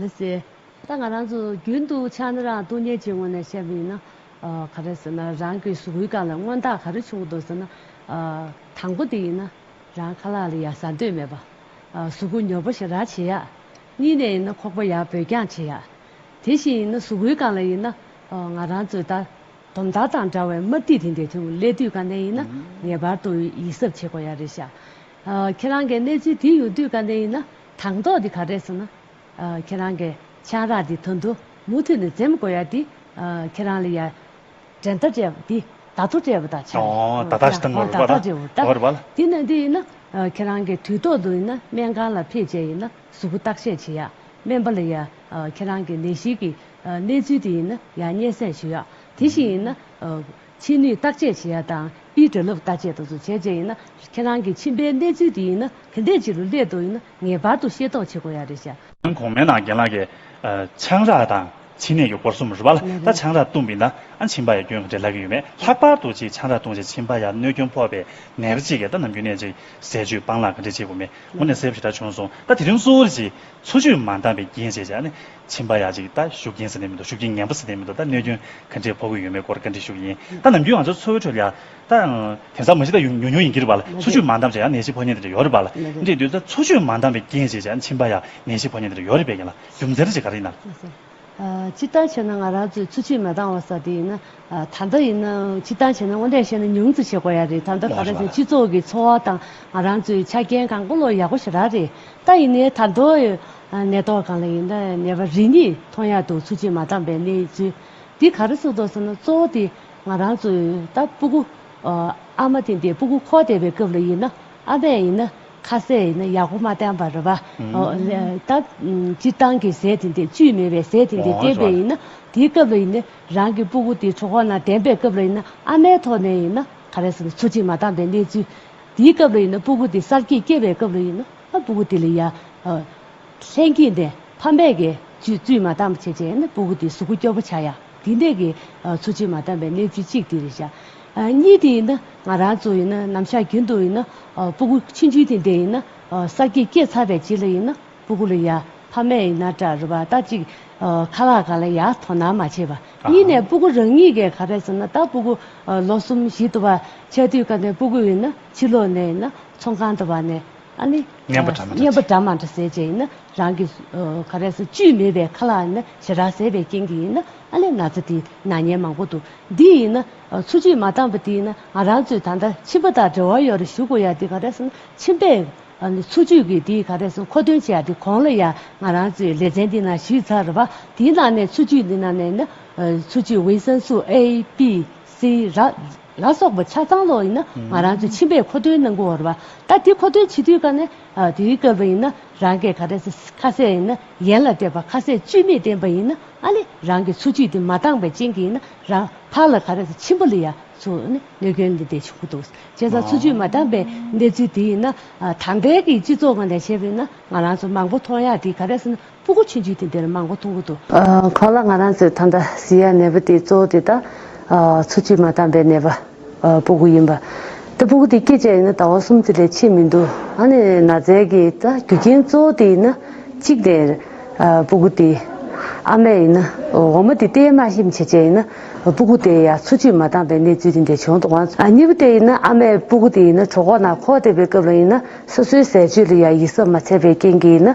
ལི་སི། ད་ང་རང་ཚོ་རྒྱུན་དུ་ཕྱག་ན་རང་སྟོང་ཉལ་གྱི་ངང་ནས་བཤད་པ་ཡིན་ན། ག་རེ་ཟེར་ན་རང་གི་ཟུག་གུའི་སྒང་ལ་མངོན་རྟགས་ག་རེ་བྱུང་འདུག་ཟེར་ན། དང་པོ་དེ་ཡིན་ན། རང་ཁ་ལག་ལ་ཡར་ཟ་འདོད་མེད་པ། ཟུག་གུ་ཉོབ་པོ་ཞིག་རག་བྱེད་ཡ། གཉིས་ནས་ཡིན་ན་ཁོག་པ་ཡར་བུད་རྒྱང་བྱེད་ཡ། དེ་བཞིན་ཡིན་ན་ཟུག་གུའི་སྒང་ལ་ཡིན་ན། ང་རང་ཚོའི་ལྟ་དོམ་དར་དང་འདྲ་བའི་དམར་ཐིག་དེ་འདེད་དུས་ཀླད་དུས་གང་ནས་ཡིན་ན་ངེས་པར་དུ་ཡིད་གཟབ་བྱེད་དགོས་ཡ་རེད་ཤག། ཁྱེད་རང་གིས་གནས་ཚུལ་དེ་ཡོང་དུས་བཀའ་བསྟན་ཡིན་ན་དང་ཐོག་འདི་ག་རེད་ཟེར་ན། ཁྱེད་རང་གི་ཆང་རག་འདི་དོན་དུ་མུ་མཐུད་ནས་འཛེམ་དགོས་ཡ་འདི། ཁྱེད་རང་ལ་ཡ། འགྲན་ཟླ་སྤྲད་པ་འདི་བརྡ་ཐོ་སྤྲད་པ་དང་ཆ་རེད། ཁྱེད་རང་བརྡ་ཐོ་སྤྲད་འོ་ད། དེ་ནས་འདི་ཡིན་ན། ཁྱེད་རང་གིས་དུས་ཐོག་ཏུ་ཡིན་ན་སྨན་ཁང་ལ་ཕེབས་རྗེས་ཡིན་ན་གཟུགས་པོ་བརྟག་བཤེར་བྱེད་ཡ། སྨན་པ་ལ་ཡ། ཁྱེད་རང་གི་ནད་གཞི་གི་གནས་ཚུལ་དེ་ཡིན་ན་ཡ་སྙན་གསན་ཞུ་ཡ། དེ་བཞིན་ཡིན་ན། ཕྱི་ནུས་བརྟག་དཔྱད་བྱེད་ཡ་དང་དཔེའི་གྲོལ་ལུགས་བརྟག་དཔྱད་དུ་བྱེད་བྱེད་ཡིན་ན་ཁྱེད་རང་གི་མཆིན་པའི་གནས་ཚུལ་དེ་ཡིན་ན་དེ་འདྲས་ཅིག་རུ་སླེབས་འདུག་ཡིན་ན་ངེས་པར་དུ་ཤེས་རྟོགས་བྱེད་དགོས་ཡ་རེད་ཤག། ཁྱོད་གོང་མའི་ནང་རྒན་ལགས་ཀྱི། ཆང་རག་དང་མཆིན་ནད་ཀྱི་སྐོར་གསུམ་རུ་བ་ལ་ད་ཆང་རག་བཏུངས་པིན་ན་ཨ་མཆིན་པ་ཡ་སྐྱོན་ག་འདྲས་ལག་གི་ཡོད་མེད་ལྷག་པར་དུ་ཅིག་ཆང་རག་བཏུངས་རྗེས་མཆིན་པ་ཡ་གནོད་སྐྱོན་ཕོག་པའི་ནད་ག་ཅིག་ག་ད་ནམ་རྒྱུན་ནས་ཅིག་ཟས་བཅུད་སྤང་ལག་ག་འདྲས་བྱེད་དགོས་མེད་མུ་ནས་གསལ་པོ་ཞེ་དྲག་བྱུང་སོང་ད་དེ་རིང་སུ་རེ་ཅིག་འཚོ་བཅུད་མ་འདང་བའི་རྐྱེན་ཞེས་བྱ། མཆིན་པ་ཡ་གཅིག་ད་ཤུགས་རྐྱེན་ཟིན་ནས་མི་འདུག་ཤུགས་རྐྱེན་ངན་པོ་ཟིན་ནས་མི་འདུག་ད་གནོད་སྐྱོན་ག་འདྲས་ཕོག་གི་ཡོད་མེད་སྐོར་བཀའ་འདྲི་ཞུ་གི་ཡིན་ད་ནམ་རྒྱུན་ང་ཚོའི་འཚོ་བའི་ཁྲོད་ལ་ད། དེང་སང་མ་གཞི་ད་ཉུང་ཉུང་ཡིན་གྱི་རེད་པ་ལ་འཚོ་བཅུད་མ་འདང་བྱས་ཡང་ནད་གཞི་ཕོག་ཉེན་དེ་འདྲ་ཡོད་རེད་པ་ལ་འདྲི་དུས་ད་འཚོ་བཅུད་མ་འདང་བའི་རྐྱེན་ཞེས་བྱ་མཆིན་པ་ཡ་ནད་གཞི་ཕོག་ཉེན་དེ་འདྲ་ཡོད་རེད་པས་ཡིན་ལ་རྒྱུ་མཚན་རེད་ཅེས་ག་རེ་ཡིན་ན། ཅི་ལྟར་བྱས་ན་ང་རང་ཚོའི་ཚུ་ཆེས་མ་འདང་བ་ས་དེ་ཡིན་ན། ད་ལྟ་ཡིན་ན་ཅི་ལྟར་བྱས་ན་དངོས་བདེན་ཤེས་ན་ཉུང་ཙི་བྱེད་དགོས་ཡ་རེད་ད་ལྟ་ག་རེ་བྱས་སྤྱི་ཚོགས་ཀྱི་འཚོ་བ་དང་ང་རང་ཚོའི་ཆ་རྐྱེན་གང་བཀོལ་ལོ་ཡག་པོ་ཞེ་རག་རེད་ད་ཡིན་ནའི་ད་མདོ་གནས་ཐོག་གང་ལ་ཡིན་ན་ནད་པ་རེ་གཉིས་མཐོང་ཡ་འདུག་ཚུ་ཆེས་མ་འདང་པའི་གནས་ཚུལ་འདི་ག་རེ་སུ་འདོག་ཟེར་ན་གཙོ་བོ་དེ་ང་རང་ཚོའི་ད་སྤུ་གུ་ཨ་མ་དེ་འདས་སྤུ་གུ་ཁོག་འདས་པའི་སྐབས་ལ་ཡིན་ན་ཨ་མས་ཡིན་ན། ཁ་ཟས་ཡིན་ན་ཡག་པོ་མ་བསྟན་པར་རེད་པ། ད་སྤྱིར་བཏང་གི་ཟས་དེ་འདི་བཅུད་མེད་པའི་ཟས་དེ་འདི་བསྟེན་པས་ཡིན་ན་དེའི་སྐབས་ལ་ཡིན་ན་རང་གི་སྤུ་གུ་དེ་གྲོག་ཁོག་ན་ལྡན་པའི་སྐབས་ལ་ཡིན་ན་ཨ་མའི་ཐོག་ནས་ཡིན་ན་ག་རེ་ཟེར་ན་ཚོ་གཅིག་མ་བཏང་པའི་གནས་ཚུལ། དེའི་སྐབས་ལ་ཡིན་ན་སྤུ་གུ་དེ་གསར་སྐྱེས་སྐྱེས་པའི་སྐབས་ལ་ཡིན་ན་སྤུ་གུ་དེ་ལ་ཡ། ལྷན་སྐྱེས་ནས་ཕ་མས་གི་བཅུད་མ་བཏང་པ་བྱས་བྱས་ཡིན་ན་སྤུ་གུ་དེ་གཟུགས་སྐུ་སྐྱོ་པོ་ཆགས་ཡ་དེ་འདི་གི་ཚོ་གཅིག་མ་བཏང་པའི་གནས་ཚུལ་གཅིག་དེ་རེད་བྱ། གཉིས་དེ་ཡིན་ན་ང་རང་ཚོ་ཡིན་ན་ནམ་ཞག་རྒྱུན་དུ་ཡིན་ན་སྤུ་གུ་ཕྱི་འཇུས་དེ་འདི་ཡིན་ན་གསར་སྐྱེས་སྐྱེས་ཚར་བའི་རྗེས་ལ་ཡིན་ན་སྤུ་གུ་ལ་ཡར་ཕ་མས་ཡིན་ན་སྐྲ་རུ་བ་ལྟ་གཅིག་ཁ་ལག་ག་ལ་ཡར་དོ་སྣང་མ་བྱེད་པ་གཉིས་ནས་སྤུ་གུ་རང་ཉིད་ཀས་ག་རེ་བཟོ་ན་ད་སྤུ་གུ་ལོ་གསུམ་བཞི་དུ་བ་ཆད་དུས་ག་ནས་སྤུ་གུ་ཡིན་ན་ཕྱི་ལོག་ནས་ཡིན་ན་ཚོང་ཁང་དུ་བ་ནས། ཨ་ནི། སྙན་པ་སྒྲ་མ་སྙན་པ་སྒྲ་མ་འདྲ་ཟེར་བྱས་ཡིན་ན་རང་གི། ཁ་རས་སུ་བཅུད་མེད་པའི་ཁ་ལག་ནི་ཞེ་དྲག་ཟད་པའི་རྐྱེན་གྱིས་ཡིན་ན་ཨ་ལས་ན་ཚ་དེ་ན་སྙན་མང་པོ་འདུག་འདི་ཡིན་ན། ཚུར་གཅིག་མ་བཏང་པ་དེ་ཡིན་ན་ང་རང་ཚོས་ད་ལྟ་མཆིན་པ་དང་འབྲེལ་བ་ཡོད་རེ་ཞུ་དགོས་ཡ་དེ་ག་རས་ན་མཆིན་པས། འཚོ་བཅུད་ཀྱི་དེ་ག་རས་མཁོ་འདོན་བྱས་ཡ་དེ་གོང་ལ་ཡ་ང་རང་ཚོས་ལེ་ཚན་འདི་ན་ཞུས་ཚར་བ་དེའི་ནང་ནས་འཚོ་བཅུད་འདི་ནང་ནས་ཡིན་ན། འཚོ་བཅུད་ཝིན་སན་སུ་ཨེ། པི། སི། ར། ལ་སོགས་པ་ཆ་ཚང་ལོག་ཡིན་ན་ང་རང་ཚོས་ཕྱིན་པས་མཁོ་འདོན་གནང་གི་འོར་བ་ད་དེ་མཁོ་འདོན་བྱེད་དུས་ཀ་ནས་དེའི་སྐབས་པ་ཡིན་ན་རང་གས་ག་རེ་ཁ་གསལ་ཡིན་ན་ཡན་ལ་སྤྲད་པ་ཁ་གསལ་བཅོས་མིན་བསྟན་པ་ཡིན་ན་ཨ་ལེ་རང་གི་འཚོ་བཅུད་དེ་མ་འདང་བའི་རྐྱེན་གྱིས་ཡིན་ན་རང་ཕག་ལ་ག་རེ་ཕྱིན་པ་ལ་ཡ་མཚོ་ནས་གནོད་སྐྱོན་འདི་འདྲས་བྱུང་གི་འདུག་བྱས་ཙང་འཚོ་བཅུད་མ་འདང་པའི་གནས་ཚུལ་དེ་ཡིན་ན་ད་ལྟའི་གི་སྤྱི་ཚོགས་ངོས་ནས་བྱས་པ་ཡིན་ན་ང་རང་ཚོ་མང་པོ་མཐོང་ཡག་དེ་ག་རེ་ཟེར་ན་སྤུ་གུ་ཆུན་ཆུན་དེ་འདིར་མང་པོ་མཐོང་གི་འདུག། ཁོ་ལ་ང་རང་ཚོའི་ཐང་དང་བཟི་ཡ་ནད་པོ་དེའི་གཙོ་བོ་དེ་དག་འཚོ་བཅུད་མ་དྭངས་པའི་ནད་པ་སྤུ་གུ་ཡིན་པ། ད་སྤུ་གུ་དེ་སྐྱེས་བཅས་ཡིན་ན་ཟླ་བ་གསུམ་ཙི་ལས་ཕྱིན་མི་འདུག་ཨ་ནེ་ན་ཛས་ཀྱི་ད་རྒྱུ་རྐྱེན་གཙོ་བོ་དེ་ཡིན་ན་གཅིག་ནས་སྤུ་གུ་དེ་ཨ་མས་ཡིན་ན་འོ་མ་དེ་ཏེའི་དམའ་ཞིམ་བྱེད་བཅས་ཡིན་ན་སྤུ་གུ་དེ་ཡ་འཚོ་བཅུད་མ་དྭངས་པའི་གནས་ཚུལ་དེ་འདྲས་བྱུང་འདུག་གཉིས་པོ་དེ་ཡིན་ན་ཨ་མས་སྤུ་གུ་དེ་ཡིན་ན་གྲོགས་ཁོག་ན་ཁོག་བསྡད་པའི་སྐབས་ལ་ཡིན་ན་སོ་སོའི་ཟས་སྤྱོད་ལ་ཡ་ཡིད་གཟབ་མ་བྱས་པའི་རྐྱེན་གྱིས་ཡིན་ན།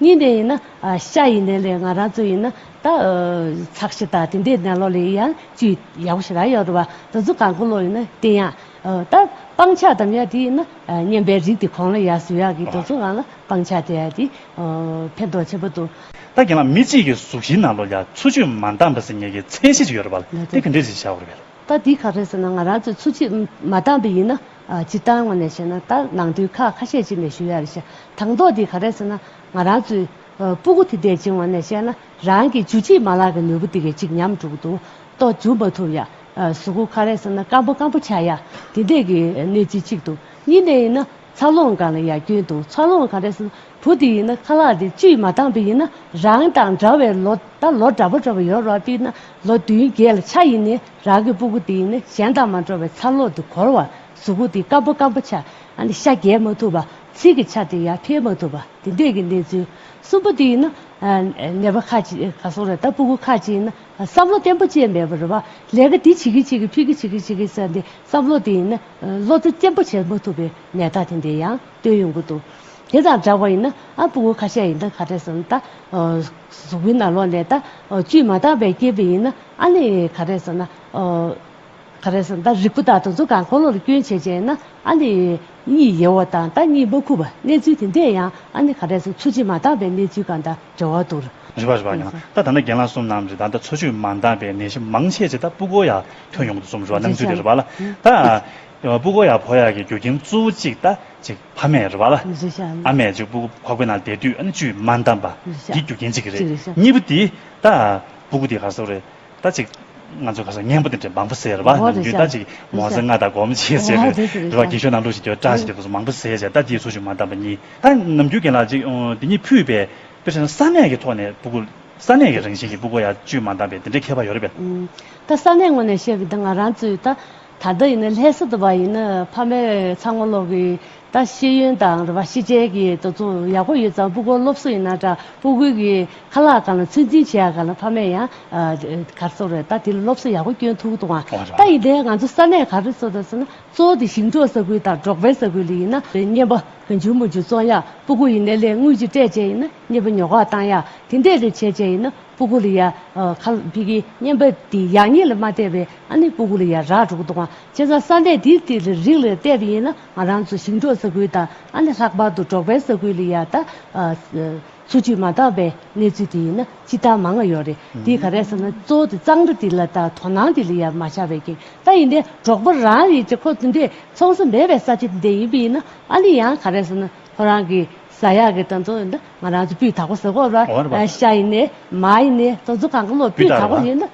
གཉིས་ནས་ཡིན་ན་ཤ་ཡི་ནད་ལས་ང་རང་ཚོ་ཡིན་ན་ད་ཚགས་ཤི་དང་དེ་འདྲའི་ནད་ལོག་ལས་ཡང་བཅུ་ཡག་པོ་ཞིག་རག་ཡོད་རེད་བ་ད་ཚོ་གང་དགོས་ལོག་ཡིན་ན་བསྟེན་ཡག་ད་སྤང་ཆགས་དམ་ཡག་དེ་ཡིན་ན་སྙན་པའི་རིགས་དེ་གང་ལ་ཡག་སུ་ཡག་གི་ད་ཚོ་གང་ལ་སྤང་ཆགས་དེ་ཡག་དེ་ཕན་ཐོག་ཆེ་པོ་འདུག། ད་རྒན་ལགས་མི་གཅིག་གི་གཟུགས་གཞིའི་ནང་ལོག་ཡ་འཚོ་བཅུད་མ་འདང་བ་ཟེར་ངེས་ཀྱི་མཚན་གཞི་ཅིག་ཡོད་རེད་བ་ལ་དེ་ག་འདྲས་ཞིག་བྱ་དགོས་རེད་བ་ལ། ད་དེ་ག་རེད་ཟེར་ན་ང་རང་ཚོ་འཚོ་བཅུད་མ་འདང་བས་ཡིན་ན། སྤྱིར་བཏང་ངོས་ནས་བཤད་ན་ད་ནང་དུས་ཁག་ཁ་ཤས་ཅིག་ནས་ཞུ་ཡ་རེད་བྱ། དང་ཐོག་འདི་ག་རེད་ཟེར་ན་ང་རང་ཚོའི། སྤུ་གུ་དེ་འདས་ཅིང་ངོས་ནས་བཤད་ན་རང་གི་ཇུས་གཅིག་མ་ལག་གི་ནོར་བུ་དེ་གས་ཅིག་ཉམས་དཀྲུགས་འདུག་ཏོ་འཇུ་མ་ཐུབ་ཡ། གཟུགས་སྐུ་ག་རེད་ཟེར་ན་སྐམ་པོ་སྐམ་པོ་བྱ་ཡ། དེ་འདས་ཀྱི་གནས་ཚུལ་གཅིག་འདུག་གཉིས་ནས་ཡིན་ན་འཚར་ལོངས་གང་ལ་ཡ་སྐྱོན་འདུག་འཚར་ལོངས་ག་རེད་ཟེར་ན་བུ་དེ་ཡིན་ན་ཁ་ལག་དེ་བཅུས་མ་བཏང་པས་ཡིན་ན་རང་དང་འདྲ་བའི་ལོ་ད་ལོ་འདྲ་པོ་འདྲ་པོ་ཡོད་རོགས་དཔེར་ན་ལོ་བདུན་བརྒྱད་ལ་ཆ་ཡིན་ནས་རང་གི་སྤུ་གུ་དེ་ནི་གཞན་དང་མ་འགྲོགས་པའི་ཚ་ལོག་དེ་འཁོར་བར་གཟུགས་གུ་དེ་སྐམ་པོ་སྐམ་པོ་ཆ་ཤ་རྒྱས་མ་ཐུབ་པ་ཚིལ་གྱི་ཆ་དེ་ཡར་འཕེལ་མ་ཐུབ་པ་དེ་འདས་ཀྱི་གནས་ཚུལ། གསུམ་པ་དེ་ཡིན་ན། ནད་པ་ཁ་ཅིག་སོང་རེ་ད་སྤུ་གུ་ཁ་ཅིག་ཡིན་ན་བསམ་བློ་བརྟན་པོ་ཅན་མེད་པར་རེ་བ་ལས་ཀ་དེ་བྱེད་ཀི་བྱེད་ཀི་ཕིག་གི་བྱེད་ཀི་བྱེད་ཀི་བསམ་སྟེ་བསམ་བློ་དེ་ཡིན་ན་བློ་རྩེ་བརྟན་པོ་བྱེད་མ་ཐུབ་པའི་ནད་རྟགས་དེ་འདི་ཡང་སྟོན་ཡོང་གི་འདུག་དེ་དང་འདྲ་བ་ཡིན་ན་ཨ་སྤུ་གུ་ཁ་ཤས་ཡིན་ད་ག་རེ་བསམ་ད་གཟུགས་པོའི་ནང་ལོགས་ནས་ད་བཅུད་མ་བཏང་བས་སྐྱེས་པ་ཡིན་ན། ཨ་ལས་ག་རེ་ཟེར་ན། ག་རེ་ཟེར་ན་རིགས་པ་དག་དང་གཟུགས་གང་འཁོར་ལོ་ལ་སྐྱོན་བྱེད་ཅན་ན་ཨ་ལས་གཉིས་ཡལ་བ་དང་ད་གཉིས་མ་ཁུག་པ་གནས་ཚུལ་དེ་འདྲས་ཡང་ཨ་ནི་ག་རེ་ཟེར་འཚོ་བྱེད་མ་འདང་པའི་གནས་ཚུལ་གང་དང་འབྲེལ་བ་འདུག་རེད་རེད་པ་ཡང་ད་ད་ནི་རྒན་ལགས་གསུམ་ནམ་རེད་ད་ད་འཚོ་བྱེད་མ་འདང་པའི་ནད་གཞི་མང་ཆེ་ཆེ་ད་སྤུ་གོ་ཡ་ཐོན་ཡོང་དུ་གསུམ་རེད་པ་སྣང་ཚུལ་དེ་རེད་པ་ལ་ད་སྤུ་གོ་ཡ་བོ་ཡ་གི་རྒྱུ་རྐྱེན་གཙོ་བོ་གཅིག་ད་གཅིག་ཕ་མེས་རེད་པ་ལ་ཨ་མས་གཅིག་སྤུ་གོ་ཕ་གོའི་ནང་བསྡད་དུས་ཨ་ནི་བཅུད་མ་འདང་པ་འདི་རྒྱུ་རྐྱེན་གཅིག་རེད་གཉིས་པ་དེ་ད། སྤུ་གུ་དེ་ག་ཟོ་རེད་ད་ཅིག། ང་ཚོ་ག་ཟོ་སྙན་པོ་དེ་འདྲ་མང་པོ་ཟེར་བ་ནམ་རྒྱུན་ད་ཅིག་མོ་ཟེར་ང་ད་སྒོམ་བྱེད་ཟེར་བའི་རེ་བ་སྐྱིད་ཤོད་ནང་ལུགས་ཤིག་གྱོད་བཀྲ་ཞེས་དེ་མང་པོ་ཟེར་བྱས་ད་དེའི་ཚུར་ཞུགས་མ་བཏང་བ་གཉིས་ད་ནམ་རྒྱུན་རྒན་ལགས་ཅིག་དེ་གཉིས་ཕུད་པའི་དཔེར་བྱས་ན་ས་གནས་ཀྱི་ཐོག་ནས་སྤུ་གུ། ས་གནས་ཀྱི་རང་བཞིན་གྱི་སྤུ་གུ་ཡང་བཅོས་མ་བཏང་བས་དེ་འདྲའི་ཁྱད་པར་ཡོད་རེད་པས། ད་ས་གནས་ངོས་ནས་བཤད་པའི་ད་ང་རང་ཚོའི་ད། ད་ལྟ་ཡིན་ན་ལྷས་ས་དུ་བ་ཡིན་ན་ཕ་མས་ཚང་མ་ལོག་གི་ད་ཤེས་ཡོན་དང་རེ་བ་ཤེས་བྱའི་གི་དོ་ཚོ་ཡག་པོ་ཡོད་ཙང་པུ་གོར་སློབ་གསོ་ཡིན་ན་འདྲ་པུ་གུ་གི་ཁ་ལག་གང་ལ་ཚོད་འཛིན་བྱེད་ཡག་ག་ལ་ཕ་མས་ཡང་གར་སོ་རེད་ད་དེ་ལ་སློབ་གསོ་ཡག་པོ་སྐྱོན་ཐུག་ཏུ་ང་ད་ཡིན་དེ་ང་ཚོ་ས་གནས་ག་རེ་ཚོ་ད་ཚོ་ན་ཚོ་དེ་ཞིང་འབྲོག་ས་ཁུལ་དང་འབྲོག་པའི་ས་ཁུལ་ལ་ཡིན་ན་བརྙན་པ་བུ་འཇུག་མོ་འཇུག་བཙོང་ཡག་པུ་གུ་ཡིན་ན་ལས་དངུལ་གྱི་སྤྲད་བྱས་ཡིན་ན་བརྙན་པ་ཉོ་ག་བཏང་ཡག་དེ་འདས་ལས་བྱས་བྱས་ཡིན་ན་པུ་གུ་ལ་ཡག་ཁ་ལ་བི་གི་བརྙན་པ་དེ་ཡག་ཉེས་ལ་མ་བལྟས་པའི། ཨ་ནི་སྤུ་གུ་ལ་ཡ་རགས་དྲུག་འདུག་ཁྱེད་ཚོ་ས་འབྲས་དེའི་ཏི་ལི་རིགས་ལས་བལྟས་པ་ཡིན་ན་ང་རང་ཚོ་ཞིང་འབྲོག་ས་ཁུལ་དང་ཨ་ནི་ལྷག་པར་དུ་འབྲོག་པའི་ས་ཁུལ་ལ་ཡ་ད་འཚོ་བཅུད་མ་འདང་བའི་གནས་ཚུལ་དེ་ཡིན་ན་ཅི་ལྟར་མ་ང་ཡོད་རེད་དེ་ག་རེད་ཟེར་ན་གཙོ་བོ་དེ་གཙང་སྦྲ་དེ་ལ་དང་དོ་སྣང་དེ་ལ་ཡ་མ་བྱ་བའི་རྐྱེན་ད་ཡིན་དེ་འབྲོག་པ་རང་རེད་ཀྱི་ཁོ་ཚོ་འདི་འཚོང་ས་མེད་པའི་ས་ཆ་འདི་ཡིན་པ་ཡིན་ན་ཨ་ནི་ཡང་ག་རེད་ཟེར་ན་ཁོ་རང་གི་ས་ཡག་གི་ད་འཚོ་ཡིན་ན་ང་རང་ཚོ་སྤུས་དག་པོ་ཟེར་དགོས་ར་ཤ་ཡིན་ནས་མ་ཡིན་ནས་ཙོ་ཙོ་གང་གི་ལོ་སྤུས་དག་པོ་ཡིན་ན།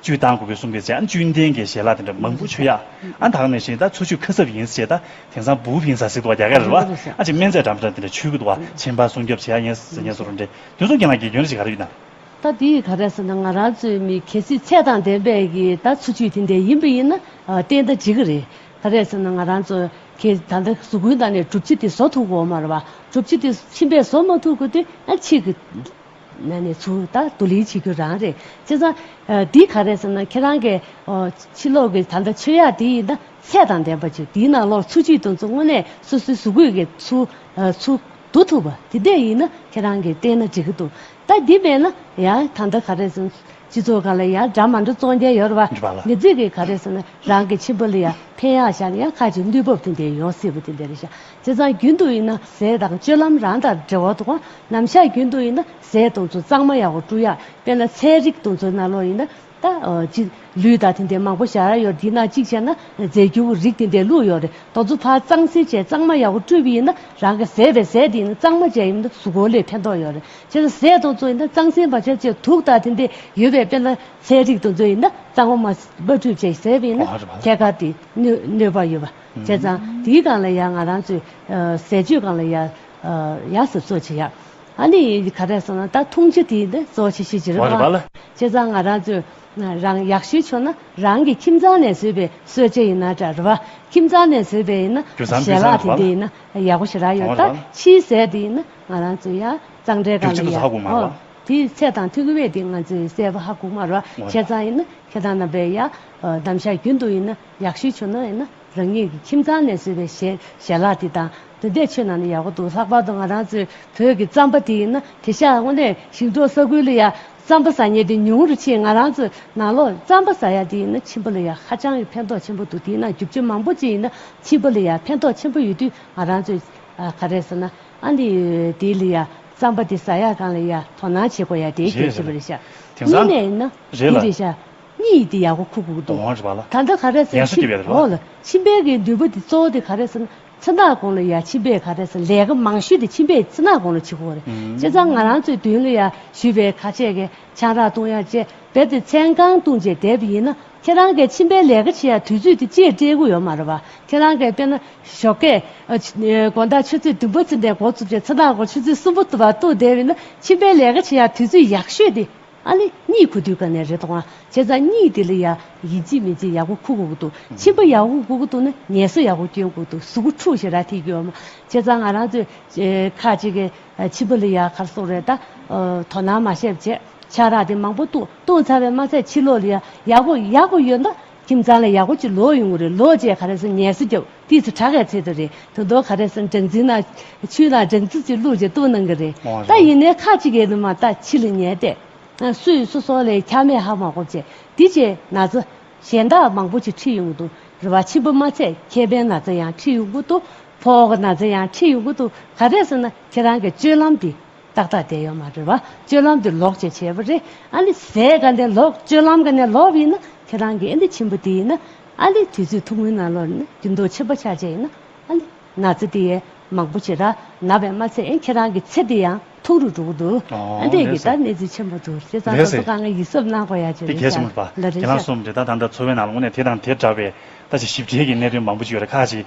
བཅུད་བཏང་དགོས་པའི་གསུང་པའི་ཟེར་ཨ་ནི་བཅུད་ལྡན་གྱི་ཞལ་ལག་དེ་འདྲ་མང་པོ་མཆོད་ཡ་ཨ་དྭགས་ནས་བཞིན་ད་ཚོ་ཆུ་ཁ་གསབ་ཡིན་ཟེར་ད་དེང་སང་བུའུ་ཕིང་ས་ཟིག་འདུག་བ་རྒྱ་གར་རེད་བ་ཨ་ཅེ་སྨན་རྫས་འདྲ་མི་འདྲ་དེ་འདྲ་ཆུ་གི་འདུག་བ་ཕྱིན་པ་སྲུང་སྐྱོབ་བྱེད་ཡ་ཡིན་ཟེར་ངས་བཟོ་རུ་འདྲེ་དུས་སུ་རྒན་ལགས་དགེ་སྐྱོན་རེ་ཞིག་ག་རེ་ཡོད་དམ། ད་དེ་ག་རེ་ཟེར་ན་ང་རང་ཚོའི་མི་གལ་སྲིད་ཚད་དང་ལྡན་པའི་གི་ད་ཚོ་ཆུ་དེ་འདྲ་ཡིན་པ་ཡིན་ན་བསྟན་ད་འགྲིག་གི་རེད་ག་རེ་ཟེར་ན་ང་རང་ཚོ་གི་ད་ད་ཟུ་གུན་ད་ནས་གྲུབ་ཆི་དེ་བཟོ་ཐུག་གོ་མ་རེད་བ་གྲུབ་ཆི་དེ་ཕྱིན་པས་བཟོ་མ་ཐུག་གི་དེ་ཨ་ཕྱིས་གི། ནས་ནས་ཚུར་ད་དུ་ལིན་བྱེད་རྒྱུ་རང་རེད་བྱས་ཙང། འདི་ག་རེད་ཟེར་ན་ཁྱེད་རང་གི་ཕྱི་ལོག་གི་ད་ལྟ་ཆོས་ཡག་འདི་ཡིན་ད་ཚད་དང་ལྡན་པ་ཅིག་འདིའི་ནང་ལོག་ཚུར་ཕྱིན་དུ་ཚུར་དངོས་གནས་སོ་སོའི་གཟུགས་གོས་ཀྱི་ཚུར་ཚུར་འདུག་ཐུབ་པ་དེ་འད་ཡིན་ན་ཁྱེད་རང་གི་བལྟས་ན་འགྲིག་གི་འདུག་ད་འདི་མེད་ན་ཡང་ད་ལྟ་ག་རེད་ཟེར་ན་སྤྱི་ཚོགས་ག་ལ་ཡང་འདྲ་མ་འདྲ་ཙོང་རྒྱལ་ཡོར་བ་མི་རྫིག་གི་ག་རེད་ཟེར་ན་རང་གི་ཁྱིམ་པ་ལ་ཡང་ཕན་ཡག་ཤག་ཡང་ཁ་ཅིག་གནོད་བབ་དེ་འད་ཡོང་སྲིད་པ་དེ་འད་རེད་ཤག་རྩེ་གཙང་རྒྱུན་དུ་ཡིན་ན་ཟས་དང་སྤྱོད་ལམ་རང་དང་འབྲེལ་བ་འདུག་ཨ་ནམ་ཤ་རྒྱུན་དུ་ཡིན་ན་ཟས་གཏོང་ཚུལ་གཙང་མ་ཡག་པོ་བཀྲུ་ཡག་དཔེར་ན་ཚལ་རིགས་གཏོང་ཚུལ་རྣ་ལོག་ཡིན་ན་ད་ཅི། ལུས་དང་དེ་འདྲའི་མང་པོ་བཞག་ཡོད་དེ་ན་གཅིག་བྱས་ན་རྫས་འགྱུར་བོ་རིགས་དེ་འདྲའི་ལུགས་ཡོད་རེད་ད་ཚུ་ཕར་གཙང་སེལ་བྱས་གཙང་མ་ཡག་པོ་བཀྲུས་པ་ཡིན་ན་རང་གི་ཟས་པའི་ཟས་དེ་ཡིན་ན་གཙང་མ་བྱས་ཡིན་ན་གཟུགས་པོ་ལས་ཕན་ཐོག་ཡོད་རེད་བྱས་ན་ཟས་གཏོང་ཚུལ་ཡིན་ན་གཙང་སེལ་མ་བྱས་བྱས་དུག་དང་དེ་འདྲའི་ཡོད་པའི་དཔེར་ན་ཚལ་རིགས་གཏོང་ཚུལ་ཡིན་ན་གཙང་མ་མ་བཀྲུས་བྱས་ཟས་པ་ཡིན་ན་ཐད་ཀར་དེ་གནོད་པ་ཡོད་པ། བྱས་ཙང་དེའི་སྒང་ལ་ཡང་ང་རང་ཚོས་ཟས་སྤྱོད་སྒང་ལ་ཡང་ཡག་ཟབ་གསོ་བྱེད་ཡག་ཨ་ནི་ག་རེ་སོང་ན་ད་ཐུང་ཆེ་དེ་ནི་གཙོ་ཆེ་ཤེས་ཀྱི་རེད་བ། བྱས་ཙང་ང་རང་ཚོས་རང་ཡག་ཤོས་ཆོག་ན་རང་གི་ཁྱིམ་ཚང་ནས་བཟོས་པའི་གསོལ་ཇ་ཡིན་ན་འདྲ་རེད་བ། ཁྱིམ་ཚང་ནས་བཟོས་པའི་ཡིན་ན་ཞལ་ལག་དེ་འདི་ཡིན་ན་ཡག་པོ་ཞིག་རག་ཡོད་ད་ཕྱིའི་ཟས་དེ་ཡིན་ན་ང་རང་ཚོས་ཡང་གཙང་སྦྲའི་སྒང་ལ་ཡག་ཨོ་དེ་ཚད་དང་ཐུག་གི་བས་དེ་ང་ཚོས་བསད་པ་ཧ་གོ་མ་རེད་བ། བྱས་ཙང་ཡིན་ན་ཁྱེད་རང་རྣམ་པས་ཡང་གདམ་བྱ་རྒྱུན་དུ་ཡིན་ན་ཡག་ཤོས་བྱུང་ན་ཡིན་ན་རང་ཉིད་ཀྱི་ཁྱིམ་ཚང་ནས་བཟོས་པའི་ཞལ་ཞལ་ལག་དེ་དང་དེ་ལྟས་མཆོད་ན་ནི་ཡག་པོ་འདུག་ལྷག་པར་དུ་ང་རང་ཚོའི་བོད་ཀྱི་རྩམ་པ་དེ་ཡིན་ན་དེ་ཤ་དངོས་གནས་ཞིང་འབྲོག་ས་ཁུལ་ལ་ཡང་རྩམ་པ་ཟ་ཉེན་དེ་ཉུང་རུ་ཕྱིན་ང་རང་ཚོའི་ནང་ལོགས་རྩམ་པ་ཟ་ཡག་དེ་ཡིན་ན་ཕྱིན་པ་ལ་ཡང་ཧ་ཅང་གི་ཕན་ཐོགས་ཆེན་པོ་འདུག་དེས་ན་རྒྱུ་ཆ་མང་པོ་ཅིག་ཡིན་ན་ཕྱིན་པ་ལ་ཡང་ཕན་ཐོགས་ཆེན་པོ་ཡོད་དུས་ང་རང་ཚོས་ག་རེ་ཟེར་ན་ཨ་ནི་དེ་ལ་ཡང་རྩམ་པ་དེ་ཟ་ཡག་གང་ལ་ཡང་དོ་སྣང་བྱེད་དགོས་ཡ་དེའི་རྒྱལ་ཞེས་པ་རེད་ཤག་གཉིས་ནས་ཡིན་ན་འདི་རེད་ཤག། གཉིས་ཡིག་དེ་ཡག་གོ་ཁུག་ཁུག་འདུག། ད་ལྟ་ག་རེད་ཟེར་ཕྱིན་འོག་ལ་ཕྱིན་པའི་གི་འདུས་པོ་དེ་གཙོ་བོ་དེ་ག་རེད་ཟེར་ན་ཚེ་ནག་གོང་ལ་ཡ་ཕྱིན་པའི་ག་རེད་ཟེར་ལས་ཀ་མང་ཞུས་དེ་ཕྱིན་པའི་ཚེ་ནག་གོང་ལ་ཕྱི་གོ་རེད་བྱས་ཙང་ང་རང་ཚོའི་དུས་ལ་ཡ་ཞུས་པའི་ཁ་ཆད་གི་ཆང་རག་བཏུང་ཡ་བཅས་བེད་དེ་ཚན་གང་བཏུང་བྱས་དེབ་ཡིན་ན་ཁྱེད་རང་གས་ཕྱིན་པའི་ལས་ཀ་བྱེད་ཡ་དུས་ཚོད་དེ་ཅེས་སྤྲེལ་གུ་ཡོད་མ་རེད་བ་ཁྱེད་རང་གས་དཔེར་ན་ཞོགས་ཀས་དགོན་བདག་ཆུ་ཚོད་བདུན་པ་ཚུན་ལས་འགོ་བཙུགས་བྱས་ཚེ་ནག་གོང་ཆུ་ཚོད་གསུམ་པོ་བཏུང་བ་བཏུང་བསྡད་ཡིན་ན་ཕྱིན་པའི་ལས་ཀ་བྱེད་ཡ་དུས་ཚོད་ཡག་ཤོས་དེ་ཨ་ལེ། གཉིད་ཁུག་དུས་ག་ནས་རེད་དང། ཁྱེད་རང་གཉིད་དེ་ལ་ཡག་ཡིན་ཅི་མིན་ཅི་ཡག་པོ་ཁུག་གུག་འདུག་མཆིན་པ་ཡག་པོ་གུག་གུག་འདུག་ན་ངལ་གསོ་ཡག་པོ་སྐྱོན་གུག་འདུག་གཟུགས་པོ་འཁྲུགས་ཤིག་ར་ཐིག་གི་འོ་མ་ཁྱེད་རང་ང་རང་ཚོའི་ཁ་ཅིག་གི་མཆིན་པ་ལ་ཡག་གར་སོང་རེད་ད། དོ་སྣང་མ་བྱེད་བྱས་ཆག་རག་དེ་མང་པོ་བཏུང་བཏུང་ཚར་བས་མ་ཚད་ཕྱི་ལོག་ལ་ཡག་པོ་ཡག་པོ་ཡོད་ན་ཁྱིམ་ཚང་ལ་ཡག་པོ་ཅིག་ལོག་ཡོང་གི་རེད་ལོག་རྗེས་ག་རེ་སོང་ངལ་གསོ་རྒྱབ། དུས་སུ་གྲགས་ཡ་ཚེ་དུ་རེད་དུ་འདོག་ག་རེ་སོང་སྦྲང་རྩི་ན་ཆུ་ལ་སྦྲང་རྩི་ཅིག་བླུགས་རྗེས་བཏུང་གནང་གི་རེད་འོང་ད་ཡིན་རང། ནས་ཁ་ཅིག་ཡས་ལུ་མ་ད་ཕྱི་ལ་ཉལ་ཏེ་སུ་ཡིས་སུ་སོང་ལས་ཁྱར་མེད་ཧ་མ་གོ་བྱས་དེ་རྗེས་ན་ཚ་གཞན་དག་མང་པོ་ཅིག་ཁྲིད་ཡོང་གི་འདུག་རེ་བ་ཆེན་པོ་མ་ཚད་ཁྱད་པན་ན་ཚ་ཡང་ཁྲིད་ཡོང་གི་འདུག་ཕོག་གི་ན་ཚ་ཡང་ཁྲིད་ཡོང་གི་འདུག་ག་རེ་སོང་ན་ཁྱེད་རང་གི་སྤྱོད་ལམ་འདི་ཏག་ཏག་བསྡད་ཡོད་མ་རེད་བ་སྤྱོད་ལམ་འདི་ལོག་བྱས་བྱས་པ་རེད་ཨ་ནི་ཟས་ག་ནས་ལོག་སྤྱོད་ལམ་ག་ནས་ལོག་པ་ཡིན་ན་ཁྱེད་རང་གི་ཨེ་འདི་ཆེན་པོ་འདི་ཡིན་ན། ཨཱ་ལི་དུས་ཚོད་ཐུང་ངུའི་ནང་ལོ་ན་རྒྱུན་དུ་ཆད་པོ་ཆགས་རྗེས་ཡིན་ན་ཨཱ་ལི། ན་ཚེ་དེ་ཡས་མང་པོ་བྱེད་རང་ན་བས་མ་ཚད་ཡིན་ཁྱེད་རང་གི་ཚེ་དེ་ཡང་ཐུང་རུ་འགྲོ་གི་འདུག་ཨཱ་འདས་ཀྱི་ད་གནས་ཚུལ་ཆེན་པོ་འདུག་བྱས་ཙང་ད་ཚོ་གང་ངས་ཡིད་གཟབ་གནང་དགོས་ཡག་ཅི་རེད་ཤག་ལ་རེད་ཤག། ཁྱེད་རང་གསུམ་འདི་ད་ད་འདྲ་འཚོ་བའི་ནང་ལ་དངོས་གནས་དེ་དང་དེ་འདྲ་བའི་ལྟ་ཅི་ཞིབ་ཕྲའི་གི་གནད་དོན་མང་པོ་ཅི་ཡོད་རེད་ཁག་ཅིག་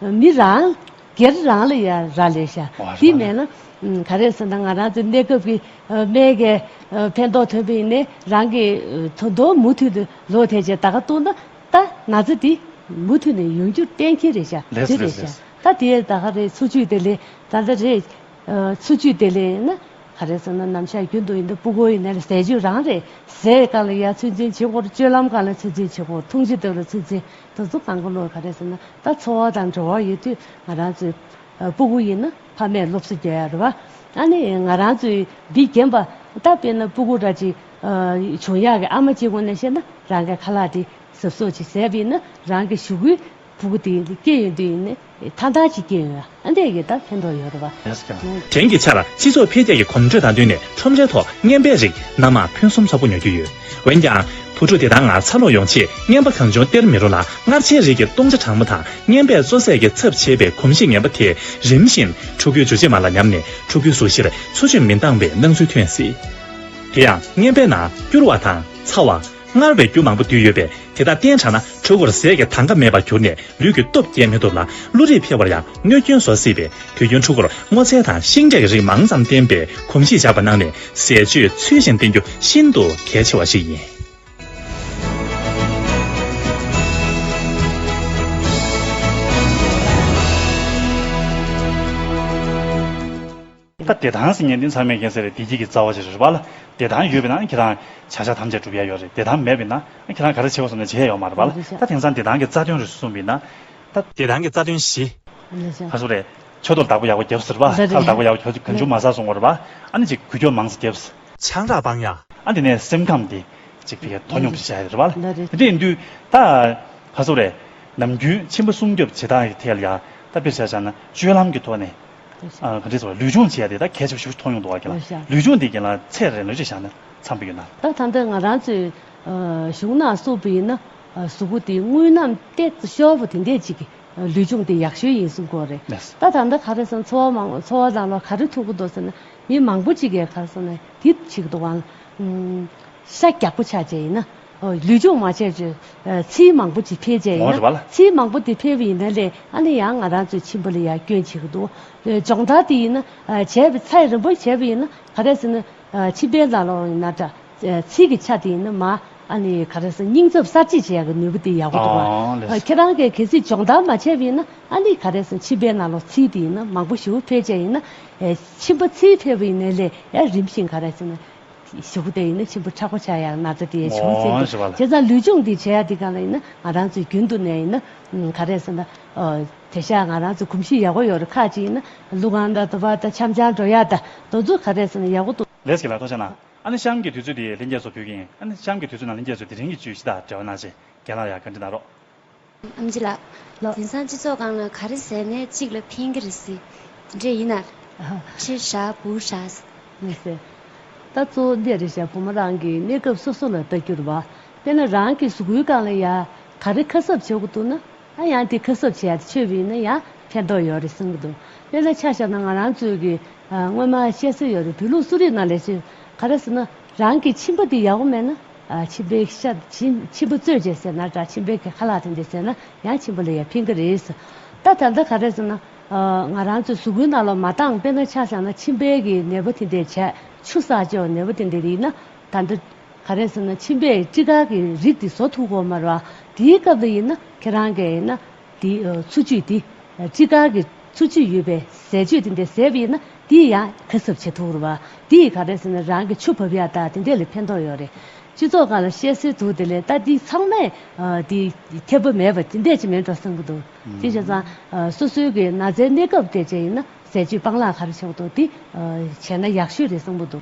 མི་རང་སྒེར་རང་ལ་ཡང་རག་ལས་ཤ་དེ་མེད་ན་ག་རེ་ཟེར་ན་ང་རང་ཚོའི་གནས་སྐབས་ཀྱི་མེས་རྒྱལ་ཕན་ཐོགས་ཐོན་པོ་ཡིན་ནའི་རང་གི་དོ་བདག་མུ་མཐུད་དུ་ལོ་དེ་བྱས་ད་ག་གཏོགས་ན་ད་ང་ཚོ་དེ་མུ་མཐུད་ནས་ཡོང་རྒྱུར་གཏན་འཁེལ་རེད་ཤ་དེ་རེད་ཤ་ད་དེ་ད་ག་རེད་འཚོ་བཅུད་དེ་ལས་ད་ལྟ་རེད་འཚོ་བཅུད་དེ་ལས་ཡིན་ན་ག་རེ་ཟེར་ན་ནམ་ཞག་རྒྱུན་དུ་ཡིན་ན་སྤུ་གོ་ཡིན་ན་ཟས་བཅུད་རང་རེད་ཟས་གང་ལ་ཡར་ཚོད་འཛིན་བྱེད་དགོས་ལྕོད་ལམ་གང་ལ་ཚོད་འཛིན་བྱེད་དགོས་འཐུང་ཆུ་དེ་ལ་ཚོད་འཛིན་ད་གཟུགས་དང་གོ་ལོག་ག་རེ་ཟེར་ན་ད་འཚོ་བ་དང་འགྲོ་བ་ཡོད་དུས་ང་རང་ཚོའི་སྤུ་གུ་ཡིན་ན་ཕ་མས་སློབ་གསོ་རྒྱག་ཡ་རེད་བ། ཨ་ནི་ང་རང་ཚོའི་འདི་རྒན་པ་ད་དཔེར་ན་སྤུ་གུ་ར་ཅིག་བྱུང་ཡག་གི་ཨ་མ་གཅིག་ངོ་ནས་བཤད་ན་རང་གི་ཁ་ལག་དེ་ཟབ་ཟོབ་ཅིག་ཟས་པས་ན་རང་གི་ཞུ་གུའི་སྤུ་གུ་དེ་སྐྱེ་ཡོང་དུས་ཡིན། མཐའ་དག་གི་སྐྱེ་བོའི་ཨ་འདས་ཀྱི་བདག་ཕན་ཐོགས་ཡོད་རེད་བ། དེང་གི་ཆར་སྤྱི་ཚོགས་འཕེལ་རྒྱས་ཀྱི་གོམ་འགྲོས་དང་བསྟུན་ནས་ཁྲོམ་རའི་ཐོག་རྔན་པའི་རིགས་སྣ་མང་ཕུན་སུམ་ཚོགས་པོ་ཉོ་རྒྱུ་ཡོད། འོན་ཀྱང། བུ་ཕྲུག་དེ་དག་ངར་ཚ་ལོག་ཡོང་ཆེད་རྔན་པ་གང་བྱུང་སྟེར་མི་རུང་ལ་མངར་ཆའི་རིགས་ཀྱི་བཏུང་བྱ་གྲང་མོ་དང་རྔན་པས་བཙོ་ཟས་ཀྱི་ཚབ་བྱེད་པའི་གོམས་གཤིས་ངན་པ་དེས་རིམ་བཞིན་ཕྲུ་གུའི་འཇུ་བྱེད་མ་ལ་ཉམས་ནས་ཕྲུ་གུའི་གཟུགས་གཞིར་འཚོ་བཅུད་མི་འདང་བའི་སྣང་ཚུལ་ཐོན་སྲིད། དེ་ཡང་རྔན་པའི་ནང་སྐྱུར་བ་དང་ཚ་བ། སྔར་བས་རྒྱུ་མང་པོ་འདུས་ཡོད་པས་དེ་དག་བསྟེན་དྲགས་ན་འཁྲུལ་འཁོར་ཟས་ཀྱི་དང་ག་མེད་པར་གྱུར་ནས་ལུས་ཀྱི་སྟོབས་སྐྱེད་མི་ཐུབ་ལ་བློ་རིག་འཕེལ་བར་ཡང་གནོད་སྐྱོན་བཟོ་སྲིད་པས་དུས་རྒྱུན་འཁྲུལ་འཁོར་སྔོ་ཚལ་དང་ཤིང་འབྲས་ཀྱི་རིགས་མང་ཙམ་བསྟེན་པའི་གོམས་གཤིས་འཇགས་པ་གནང་ནས་ཟས་སྤྱོད་ཚུལ་བཞིན་བསྟེན་རྒྱུ་ཤིན་ཏུ་གལ་ཆེ་བ་ཞིག་ཡིན། ད་བདེ་ཐང་ཟེར་ཉན་དུས་མཚར་མེད་མཁན་ཟེར་བའི་བདེ་སྐྱིད་ཀྱི་རྩ་བ་ཞིག་རེད་པཱ། བདེ་ཐང་ཡོད་པས་ན་ཁྱེད་རང་བྱ་བཞག་ཐམས་ཅད་འགྲུབ་ཡས་ཡོད་རེད་བདེ་ཐང་མེད་པས་ན་ཁྱེད་རང་ག་རེ་བྱེད་དགོས་སོང་ནས་བྱེད་ཡས་ཡོད་མ་རེད་པཱ། ད་དེང་སང་བདེ་ཐང་གི་རྩ་དོན་རེ་ཟུང་གསུངས་པས་ན་ད། བདེ་ཐང་གི་རྩ་དོན་བཞི། ཧ་སུ་རེད། མཆོད་གཏོར་བདག་པོ་ཡག་པོ་རྒྱབ་ཟེར་བཱ། ཁ་ལ་བདག་པོ་ཡག་པོ་གྱོ་གྱོ་འཇུག་མ་ཟ་སོང་ངོ་རེད་པཱ། ཨ་ནི་ཅིག་གུས་གྱོ་མང་ས་རྒྱབ། ཆང་རག་སྤང་ཡ། ཨ་དེ་ནས་སེམས་ཁམས་དེ། ཅིག་ཕི་གས་དོ་སྙོམས་ཞིག་བྱ་ཡ་རེད་པཱ། དེ་འདྲ་ཡིན་དུས་ད། ཧ་སུ་རེད། ནམ་རྒྱུན་ཁྱིམ་པ་སྲུང་སྐྱོབ་བྱེད་སྟངས་ཡག་ཐད་ལ་ཡ། ད་དཔེར་བྱ་བཞག་ན་སྤྱོད་ལམ་གྱི་ཐོག་ནས། གང་དྲིས་སོ། ལུས་ཆུང་བྱས་ཏེ་ད་གས་ཆུ་བྱུགས་ཐོག་ཡོང་དུ་བ་གས་ལ། ལུས་ཆུང་དེ་གས་ལ་ཚད་རེ་ལོས་ཆུ་བཞག་ན་འཚམ་པོ་ཡོད་ན། ད་ད་འདི་ང་རང་ཚོས་བྱུགས་ན་སོ་པི་ཡིན་ན་གཟུགས་པོ་དེ་དངུལ་ནམ་ཏེ་ཤོ་བོ་དེ་འད་ཅིག་ལུས་ཆུང་དེ་ཡག་ཤོས་ཡིན་གསུང་གོ་རེ། ད་ད་འདི་ག་རེ་སོང་འཚོ་བ་མང་འཚོ་བ་ལ་ལ་ག་རེ་ཐུག་གི་འདུག་ཟེར་ན་མི་མང་པོ་ཅིག་གས་ག་རེ་སོང་ན་དེ་ཆིག་དུ་བ། ཤ་རྒྱག་པོ་ཆགས་བྱས་ཡིན་ན། ལུས་སྦྱོང་མ་བྱས་ཚོས་ཚིལ་མང་པོ་ཅིག་འཕེལ་བྱས་ཡིན་ན། ཚིལ་མང་པོ་དེ་འཕེལ་བ་ཡིན་ན་ལས་ཨ་ནི་ཡང་ང་རང་ཚོའི་ཁྱིམ་པ་ལ་ཡང་སྐྱོན་བྱེད་ཀྱི་འདུག་སྦྱོང་བརྡར་དེ་ཡིན་ན་བྱས་པའི་ཚད་རིམ་པར་བྱས་པ་ཡིན་ན་ག་རེ་ཟེར་ན། ཕྱི་པའི་ལ་ལོག་ཡིན་ན་འདྲ། ཚིལ་གྱི་ཆ་དེ་ཡིན་ན་མ་ཨ་ནི་ག་རེ་ཟེར་སྙིང་ཚབ་གསར་བརྗེ་བྱས་ཀྱི་ནུས་པ་དེ་ཡག་པོ་འདུག་བ། ཁྱེད་རང་གིས་གལ་སྲིད་སྦྱོང་བརྡར་མ་བྱས་པ་ཡིན་ན་ཨ་ནི་ག་རེ་ཟེར་ཕྱི་པའི་ལ་ལོག་ཚིལ་དེ་ཡིན་ན་མང་པོ་ཞིག་འཕེལ་བྱས་ཡིན་ན། ཁྱིམ་པ་ཚིལ་འཕེལ་བ་ཡིན་ན་ལས་ཡང་རིམ་བཞིན་ག་རེ་ཟེར་ན། ཞོགས་པ་དེ་ཡིན་ན་ཆེན་པོ་ཕྲག་པ་ཆགས་ཡག་ན་ཚ་དེ་ཡང་བྱུང་ཟིན་འདུག་བྱས་ཙང་ལུས་སྦྱོང་འདི་བྱེད་ཡག་འདི་གང་ལ་ཡིན་ན་ང་རང་ཚོའི་རྒྱུན་དུ་ནས་ཡིན་ན་ག་རེ་ཟེར་ན། དེ་ཤ་ང་རང་ཚོའི་གོམས་གཤིས་ཡག་པོ་ཡོད་རེད་ཁ་ཅིག་ཡིན་ན་ལུག་ཁང་དང་དུ་བ་དང་འཆམ་ཆང་འགྲོ་ཡག་དང་དུ་ཚོད་ག་རེ་ཟེར་ན་ཡག་པོ་འདུག། ལེས་ཀྱི་ལ་ཐོ་ཆ་ན་ཨ་ནི་གཤམ་གྱི་དུས་ཚོད་དེ་ལྷན་རྒྱས་ཚོ་ཕུལ་གིན་ཨ་ནི་གཤམ་གྱི་དུས་ཚོད་ན་ལྷན་རྒྱས་ཚོས་དེ་རིང་གི་བརྗོད་གཞི་དང་འབྲེལ་བ་གནང་ཞིང་རྒན་ལགས་ཡར་བཀའ་འདྲི་གནང་རོགས། ཨམ་རྗེ་ལགས། དེང་སང་སྤྱི་ཚོགས་སྒང་ལ་ག་རེ་ཟེར་ནས་གཅིག་ལ་ཕན་གྱི་རེད་སྲིད། དེ་འདྲས་ཡིན་ན། ཕྱིར་བཞག་བུར་བཞག། མི་སྲིད། ད་གཙོ་བོ་འདིར་བཞག་བུ་མོ་རང་གི་གནས་སྐབས་སོ་སོ་ལ་བལྟ་རྒྱུར་བ། དེ་ན་རང་གི་གཟུགས་སྐུའི་སྒང་ལ་ཡང་ག་རེ་ཁ་གསབ་བྱེད་དགོས་འདུག་ན། ཨ་ཡང་དེ་ཁ་གསབ་བྱས་ཏེ་ཆོས་བི་ན་ཡང་ཕན་ཐོགས་ཡོད་རེད་གསུང་གི་འདུག་དེ་ལ་ཆ་བཞག་ན་ང་རང་ཚོའི་གི་སྔོན་མ་བཤད་སྲོལ་ཡོད་རེད་བོད་ལུགས་གསོ་རིག་ནང་ལས་ཆོས་ག་རེ་ཟེར་ན། རང་གི་མཆིན་པ་འདི་ཡག་པོ་མེད་ན། མཆིན་པའི་ཤ། མཆིན་པ་བཙོས་རྗེས་ཟེར་ན་འདྲ་མཆིན་པའི་གེ་ཁ་ལག་ཐེངས་འདི་ཟེར་ན་ཡང་མཆིན་པ་ལ་ཡ་ཕིན་གི་རེད། ད་ད་ལྟ་ག་རེད་ཟེར་ན། ང་རང་ཚོས་ཟུག་རྒུའི་རྣ་ལོག་མ་བཏང་དཔེར་ན་ཆ་ཚང་ན་མཆིན་པའི་གི་ནད་པ་དེ་འདྲས་བྱས་ཆུ་ཟགས་ཅོག་ནད་པ་དེ་འདྲས་ཡིན་ན་ད་ལྟ། ག་རེད་ཟེར་ན་མཆིན་པའི་སྤྲི་དཀར་གི་རིགས་དེ་བཟོ་ཐུབ་གོ་མ་རེད། དེའི་སྐབས་དེ་ཡིན་ན་ཁྱེད་རང་གི་ཡིན་ན། དེ་ཚུར་གཅུས་ཏེ་ཅི་ལྟར་གྱི་ཚུར་གཅུས་ཡོད་པའི་ཟས་སྤྱོད་དེ་འདྲའི་ཟས་ཡིན་ན་དེ་ཡང་ཁ་གསབ་བྱེད་ཐུབ་བོ། དེ་ག་རེད་ཟེར་ན་རང་གི་ཆུ་བབ་ཡ་དག་དེ་འདྲས་ལས་ཕན་ཐོགས་ཡོད་རེད། སྤྱི་ཚོགས་ཁག་ལ་བཤད་སྲོལ་འདུག་དེ་ལས་ལྟ་དེ་ཚང་མས་དེ་ཁྱབ་པོ་མེད་པ་དེ་འདྲས་ཅིག་མིན་འགྲོ་བསམ་གྱི་འདུག་ཅིང་བྱས་ཙང་སོ་སོའི་གི་ན་ཚའི་གནས་སྐབས་དེ་བཅས་ཡིན་ན་ཟས་སྤྱོད་སྤང་བླང་ག་རེ་བྱེད་པོ་འདུག་དེ་བྱས་ན་ཡག་ཤོས་རེད་བསམ་གྱི་འདུག།